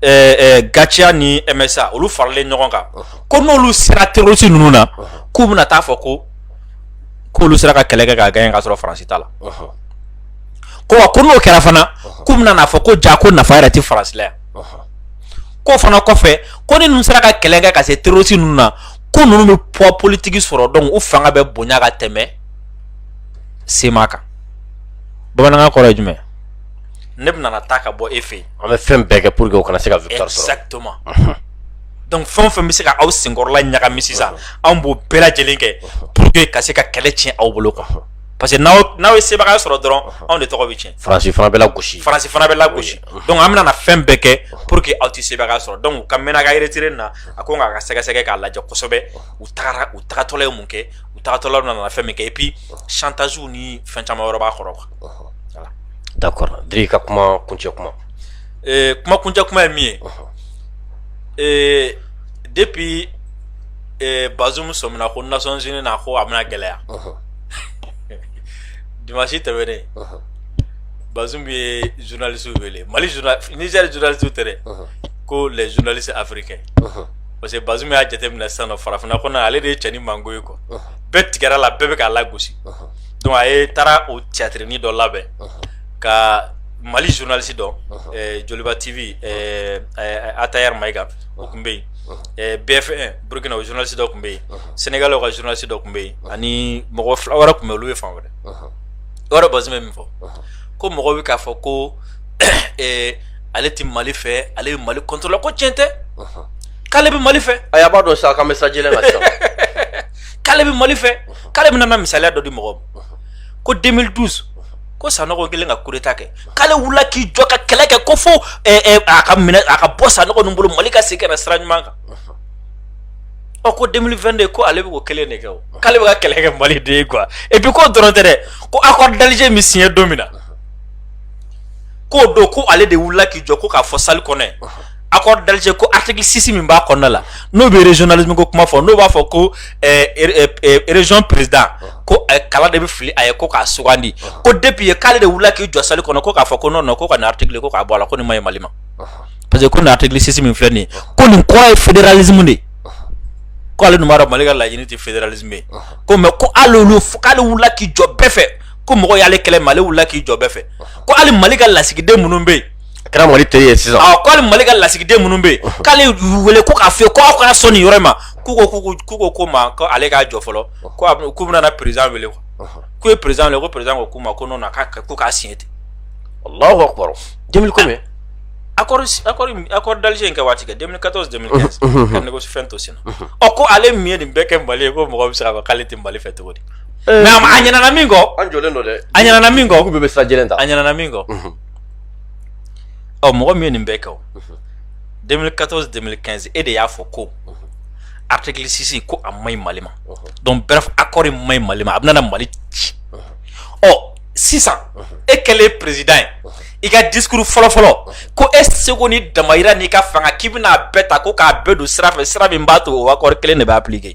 GATIA ni MSA olu faralen ɲɔgɔn kan ko n'olu sera terroriste ninnu na k'u bɛna taa fɔ ko k'olu sera ka kɛlɛ kɛ ka gagner ka sɔrɔ faransi t'a la ko wa ko n'o kɛra fana k'u bɛna n'a fɔ ko ja ko nafa yɛrɛ tɛ faransi la yan ko fana kɔfɛ ko ni ninnu sera ka kɛlɛ kɛ ka se terroriste ninnu na ko ninnu bɛ poids politique sɔrɔ donc u fanga bɛ bonya ka tɛmɛ CMA kan bamanankan kɔrɔ ye jumɛn ne bɛna taa ka bɔ e fɛ an bɛ fɛn bɛɛ kɛ pour que o kana se ka victoire sɔrɔ exactement donc fɛn o fɛn bɛ se ka aw senkɔrɔla ɲagami sisan anw b'o bɛɛ lajɛlen kɛ pour que ka se ka kɛlɛ tiɲɛ aw bolo quoi parce que n'aw ye sebagaya sɔrɔ dɔrɔn anw de tɔgɔ bɛ cɛn Faransi fana bɛ lagosi donc an bɛna na fɛn bɛɛ kɛ pour que aw tɛ sebagaya sɔrɔ donc u ka Menaka retiré na a ko nka ka sɛgɛsɛgɛ k'a lajɛ kosɛbɛ u taara u tagatɔla ye mun kɛ u tagatɔla nana fɛn min kɛ et puis chantage ni fɛn caman wɛrɛ b'a kɔrɔ D'accord Dri ka kuma kuncɛ kuma kuma kuncɛ kuma ye min ye depuis Bazoum sɔmina ko Nations Unies na ko a bɛna gɛlɛya dimansi tɛmɛnen Bazoum ye journalistew wele Niger journalistew tɛ dɛ ko les journalistes africains parce que Bazoum y'a jateminɛ sisan farafinna kɔnɔ ale de ye cɛnin mango ye quoi bɛɛ tigɛra a la bɛɛ bɛ k'a lagosi donc a ye taara o tiyatirinin dɔ labɛn ka mali journaliste dɔ joliba tv Attaher Maïga o tun bɛ yen BF1 burukina o journaliste dɔ tun bɛ yen Senegali ka journaliste dɔ tun bɛ yen ani mɔgɔ fila wɛrɛ tun bɛ olu ye fan wɛrɛ o yɔrɔ Bazoum bɛ min fɔ ko mɔgɔ bɛ k'a fɔ ko ale tɛ mali fɛ ale bɛ mali contre la ko tiɲɛ tɛ k'ale bɛ mali fɛ a y'a b'a dɔn sa k'an bɛ sajɛ la k'ale bɛ mali fɛ k'ale bɛna na misaliya dɔ di mɔgɔ ma ko 2012 ko sanɔgɔ kelen ka coup d'état kɛ k'ale wulila k'i jɔ ka kɛlɛ kɛ ko fo eh, eh, a ka minɛ a ka bɔ sanɔgɔ ninnu bolo mali ka segin ka na sira ɲuman kan ɔ ko 2022 ko ale bɛ ko kelen de kɛ o k'ale bɛ ka kɛlɛ kɛ mali de ye quoi et puis k'o dɔrɔn tɛ dɛ ko accord d'Alger min siɲɛ don min na k'o don ko ale de wulila k'i jɔ ko k'a fɔ salle kɔnɔ yen accord d'Alger ko article 6 min b'a kɔnɔna la n'o bɛ régionalisme ko kuma fɔ n'o b'a fɔ ko eh, eh, eh, région président ko kala de bɛ fili a ye ko k'a sugandi ko depuis yen k'ale de wulila k'i jɔ salle kɔnɔ ko k'a fɔ ko non non ko ka nin article ko k'a bɔ a la ko nin ma ɲi Mali ma parce que ko nin article 6 min filɛ nin ye ko nin kɔrɔ ye fédéralisme de ye ko ale dun b'a dɔn Mali ka laɲini tɛ fédéralisme ye ko mais ko hali olu k'ale wulila k'i jɔ bɛɛ fɛ ko mɔgɔ y'ale kɛlɛ mais ale wulila k'i jɔ bɛɛ fɛ ko hali Mali ka lasigiden minnu bɛ yen a kɛra mali teri ye sisan ɔ ko hali mali ka lasigiden minnu bɛ yen k'ale y'u wele ko k'a fɔ u ye ko aw kana sɔn nin yɔrɔ in ma k'u ko k'u ko- k'u ko ko ma ko ale k'a jɔ fɔlɔ ko a bɛ- k'u bɛna na perezan wele quoi. k'u ye perezan wele ko perezan ko k'u ma ko non k'a k'u k'a siɲɛ ten allahu akbar 2000 combien accord accord accord d'Alger in kɛ waati kɛ 2014 2015 ka négocier fɛn to senna ɔ ko ale min ye nin bɛɛ kɛ mali ye ko mɔgɔ bɛ se k'a fɔ k'ale tɛ mali fɛ cogo di mais a ma- a ɲinɛna min kɔ an jɔlen don dɛ a ɲinɛna min k'u kɔ bɛɛ bɛ sira jɛlen ta a ɲinɛna min kɔ ɔ mɔgɔ min ye nin bɛɛ kɛ o 2014 2015 e de y'a fɔ ko article 6 ko a man ɲi Mali ma donc bref accord in man ɲi Mali ma a bɛna na Mali ci ɔ sisan e kɛlen président ye i ka discours fɔlɔfɔlɔ ko e seko ni damayira n'i ka fanga k'i bɛna a bɛɛ ta ko k'a bɛɛ don sira fɛ sira min b'a to o accord kelen de bɛ appliquer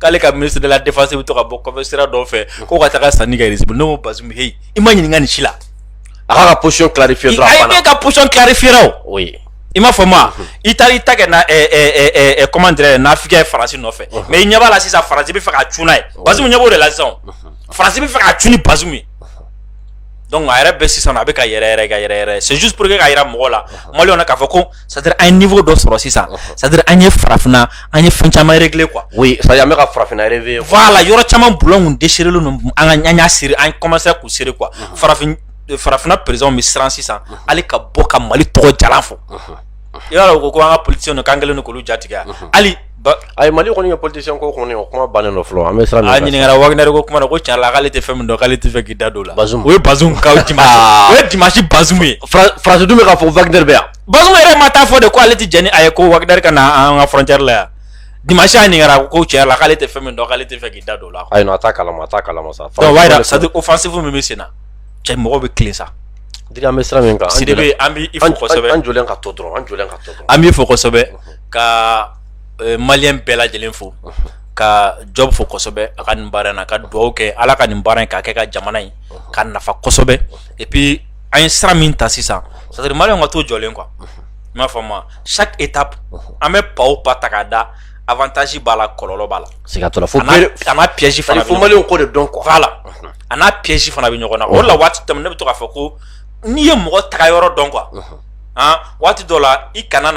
k'ale ka ministre de la défense bɛ to ka bɔ sira dɔw fɛ ko ka taga sanni kɛ Russie bolo ne ko Bazoum heyi i ma ɲininka nin si la a k'a ka position clarifier dɔrɔn a banna a y'a ka position clarifier o oui i m'a fɔ ma i taara i ta kɛ na comment dirais n'Africain ye faransi nɔfɛ mais i ɲɛ b'a la sisan faransi bɛ fɛ ka cun n'a ye Bazoum ɲɛ b'o de la sisan faransi bɛ fɛ ka cun ni Bazoum ye donc a yɛrɛ bɛ sisan a bɛ ka yɛrɛ yɛrɛ ka yɛrɛ yɛrɛ c'est juste pour que k'a yira mɔgɔw la maliyɛnw na k'a fɔ ko c'est à dire an ye niveau dɔ sɔrɔ sisan c'est à dire an ye farafinna an ye fɛn caman régler quoi oui c'est à dire an bɛ ka farafinna yɛrɛ voilà yɔrɔ caman boulon desserré ninnu an ka an y'a siri an commencera k'u serrer quoi farafin farafinna présidentw bɛ siran sisan hali ka bɔ ka mali tɔgɔ jalan fɔ i y'a dɔn ko an ka politicienw k'an kɛlen k'olu jatigɛ hali Ayi mali kɔni ye politicien ko kɔni o kuma bannen don fɔlɔ an bɛ siran a ɲininkara Wagner ko kuma ko tiɲɛ la k'ale tɛ fɛn min dɔn k'ale tɛ fɛ k'i da don o la Bazoum ye ba dimanche Bazoum faransi dun bɛ k'a fɔ Wagner bɛ yan Bazoum yɛrɛ ma taa fɔ de k'ale ale tɛ jɛn n'a ye ko Wagner ka na an ka frontière la yan dimanche a ɲininkara ko tiɲɛ la k'ale tɛ fɛn min dɔn k'ale tɛ fɛ k'i da don o la a t'a kalama t'a kalama sa c'est à dire offensive min bɛ sen na cɛ mɔgɔw bɛ tilen c'est à dire an bɛ sira min kan an b'i fo an ka to dɔrɔn an ka to an b'i fo kosɛbɛ ka maliyɛn bɛɛ lajɛlen fo ka Diop fo kosɛbɛ a ka nin baara na ka dugawu kɛ ala ka nin baara in k'a kɛ ka jamana in ka nafa kosɛbɛ et puis an ye sira min ta sisan c'est à dire maliyɛnw ka to jɔlen quoi i b'a faamu chaque étape an bɛ pas o pas ta k'a da avantage b'a la kɔlɔlɔ b'a la piège fana fo maliyɛnw k'o de dɔn quoi voilà a n'a piège fana bɛ ɲɔgɔn na o la waati tɛmɛn ne bɛ to k'a fɔ ko n'i ye mɔgɔ taga yɔrɔ dɔn quoi waati dɔ la i kana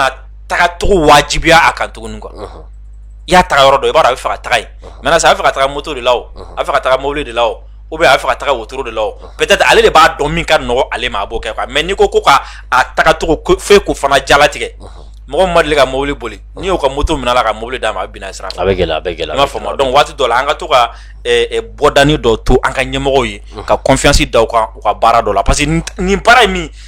tagacogo wajibiya a kan tuguni quoi i y'a taga yɔrɔ dɔn i b'a dɔn a bɛ fɛ ka taga yen maintenant a bɛ fɛ ka taga moto de la a fɛ ka taga mobili de la ou bien a bɛ fɛ ka taga wotoro de la peut-être ale de b'a dɔn min ka nɔgɔ ale ma a b'o kɛ mais n'i ko ko k'a tagacogo fɔ k'o fana jalatigɛ mɔgɔ ma deli ka mobili boli n'i y'o ka moto minɛ a la ka mobili d'a ma a bɛna siran a bɛ gɛlɛya a bɛ gɛlɛya i b'a faamu donc waati dɔ la an ka to ka bɔdani dɔ to an ka ɲɛmɔgɔw ye ka confiance da u kan u ka baara dɔ la parce que nin baara ye min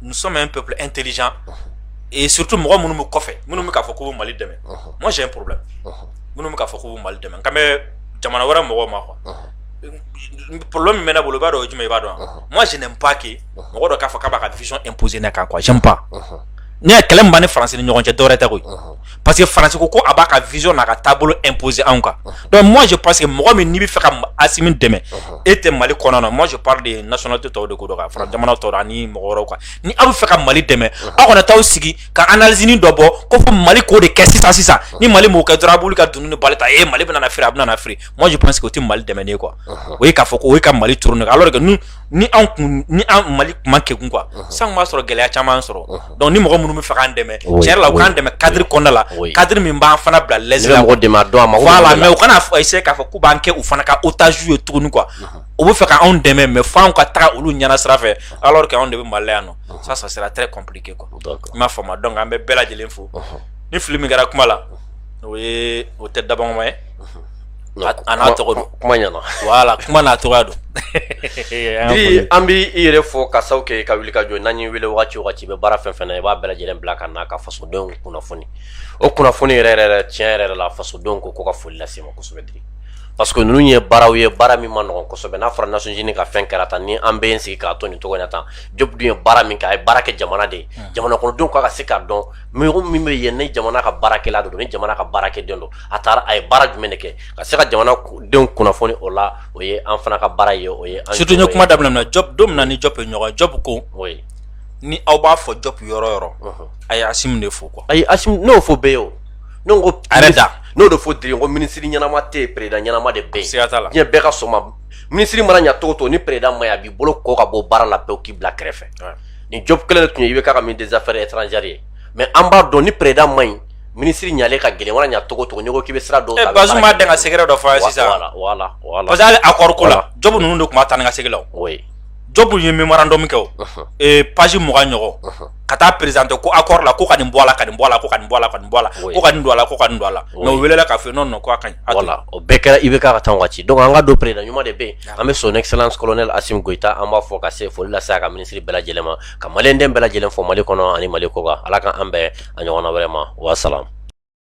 nous sommes un peuple intelligent et surtout mɔgɔ minnu bɛ kɔfɛ minnu bɛ k'a fɔ k'u bɛ Mali dɛmɛ moi j'ai un problème minnu bɛ k'a fɔ k'u bɛ Mali dɛmɛ n kan bɛ jamana wɛrɛ mɔgɔw ma quoi problème min bɛ ne bolo i b'a dɔn o ye jumɛn ye i b'a dɔn wa moi je n'aime pas que mɔgɔ dɔ k'a fɔ k'a b'a ka vision imposer ne kan quoi j'aime pas ne y'a kɛlɛ min b'an ni faransi ni ɲɔgɔn cɛ dɔwɛrɛ tɛ koyi parce que faransi ko ko a b'a ka vision n'a ka taabolo imposer anw kan donc moi je pense que mɔgɔ min n'i bɛ fɛ ka Asimi dɛmɛ e tɛ Mali kɔnɔ na moi je parle de nationalité tɔw de ko don ka fara jamana tɔw ani mɔgɔ wɛrɛw kan ni aw bɛ fɛ ka Mali dɛmɛ aw kana t'aw sigi ka analyse dɔ bɔ ko fo Mali k'o de kɛ sisan sisan ni Mali m'o kɛ dɔrɔn a b'olu ka dunun ni bala ta ee Mali bɛna na feere a bɛna na feere moi je pense que o tɛ Mali dɛmɛni ye quoi o ye k'a fɔ ko o ye ka Mali tourner alors que nous ni anw kun ni an mali kuma kɛ kun quoi san b'a sɔrɔ gɛlɛya caman sɔrɔ donc ni mɔgɔ minnu bɛ fɛ k'an dɛmɛ tiɲɛ yɛrɛ la u k'an dɛmɛ cadre kɔnɔna la cadre min b'an fana bila l'aise la mais u kana se k'a fɔ k'u b'an kɛ u fana ka otage ye tuguni quoi u bɛ fɛ ka anw dɛmɛ mais fo anw ka taga olu ɲɛna sira fɛ alors que anw de bɛ mali la yan non ça ça sera très compliqué quoi i m'a faamu donc an bɛ bɛɛ lajɛlen fo ni fili min kɛra kuma la o ye o tɛ dabama ye A n'a tɔgɔ don kuma ɲɛna voilà kuma n'a tɔgɔ don an bɛ i yɛrɛ fo ka sababu kɛ ka wuli ka jɔ n'an y'i wele wagati o wagati i bɛ baara fɛn o fɛn na i b'a bɛɛ lajɛlen bila ka n'a ka fasodenw kunnafoni o kunnafoni yɛrɛ yɛrɛ tiɲɛ yɛrɛ yɛrɛ la fasodenw ko ko ka foli lase i ma kosɛbɛ diri parce que ninnu ye baaraw ye baara min ma nɔgɔ kosɛbɛ n'a fɔra Nations Unies ka fɛn kɛra tan ni an bɛ sigi k'a to nin cogo tan job ye baara min kɛ a ye baara kɛ jamana de ye jamanadenw k'a ka se k'a dɔn mɔgɔ min bɛ yen ni jamana ka baarakɛla don ni jamana ka baarakɛden don a taara a ye baara jumɛn de kɛ ka se ka jamana denw kunnafoni o la o ye an fana ka baara ye o ye surtout n ye kuma daminɛ na job don min na ni job ye ɲɔgɔn job ko ni aw b'a fɔ job yɔrɔ o yɔrɔ uh-huh. a ye asimi de fo quoi ayi asimi n'o fɔ bɛɛ ye o ne ko a yɛrɛ da n'o de fɔ diri ko minisiri ɲɛnama tɛ yen président ɲɛnama de bɛ yen siga t'a la diɲɛ bɛɛ ka sɔn a ma minisiri mana ɲa cogo o cogo ni président man ɲi a b'i bolo kɔ ka bɔ baara la pewu k'i bila kɛrɛfɛ nin job kelen de tun ye IBK ka ministre des affaires étrangères ye mais an b'a dɔn ni président man ɲi minisiri ɲalen ka gɛlɛn mana ɲa cogo o cogo n'i ko k'i bɛ sira dɔw ta a bɛ baara kɛ Bazumu ma dan ka secret dɔ fɔ a ye sisan wa voilà voilà voilà parce que hali accord ko la Job ninnu de tun bɛ taa ni ka segin la o oui Job ye memorandum kɛ o unhun ee page mugan ɲɔgɔn unhun ka taa présenter ko accord la ko ka nin bɔ a la ka nin bɔ a la ko ka nin bɔ a la ka nin bɔ a la Oui. ko ka nin don a la ko ka nin don a la Oui. mais o welela k'a fɔ ye non non ko a ka ɲi a to yen. voilà o bɛɛ kɛra IBK ka temps waati donc an k'a dɔn président ɲuman de bɛ yen an bɛ son excellence colonel asimi goyita an b'a fo ka se foli lase a ka minisiri bɛɛ lajɛlen ma ka maliyɛnden bɛɛ lajɛlen fo mali kɔnɔ ani mali kɔkan ala ka an bɛn a ɲɔgɔnna wɛrɛ ma wa salam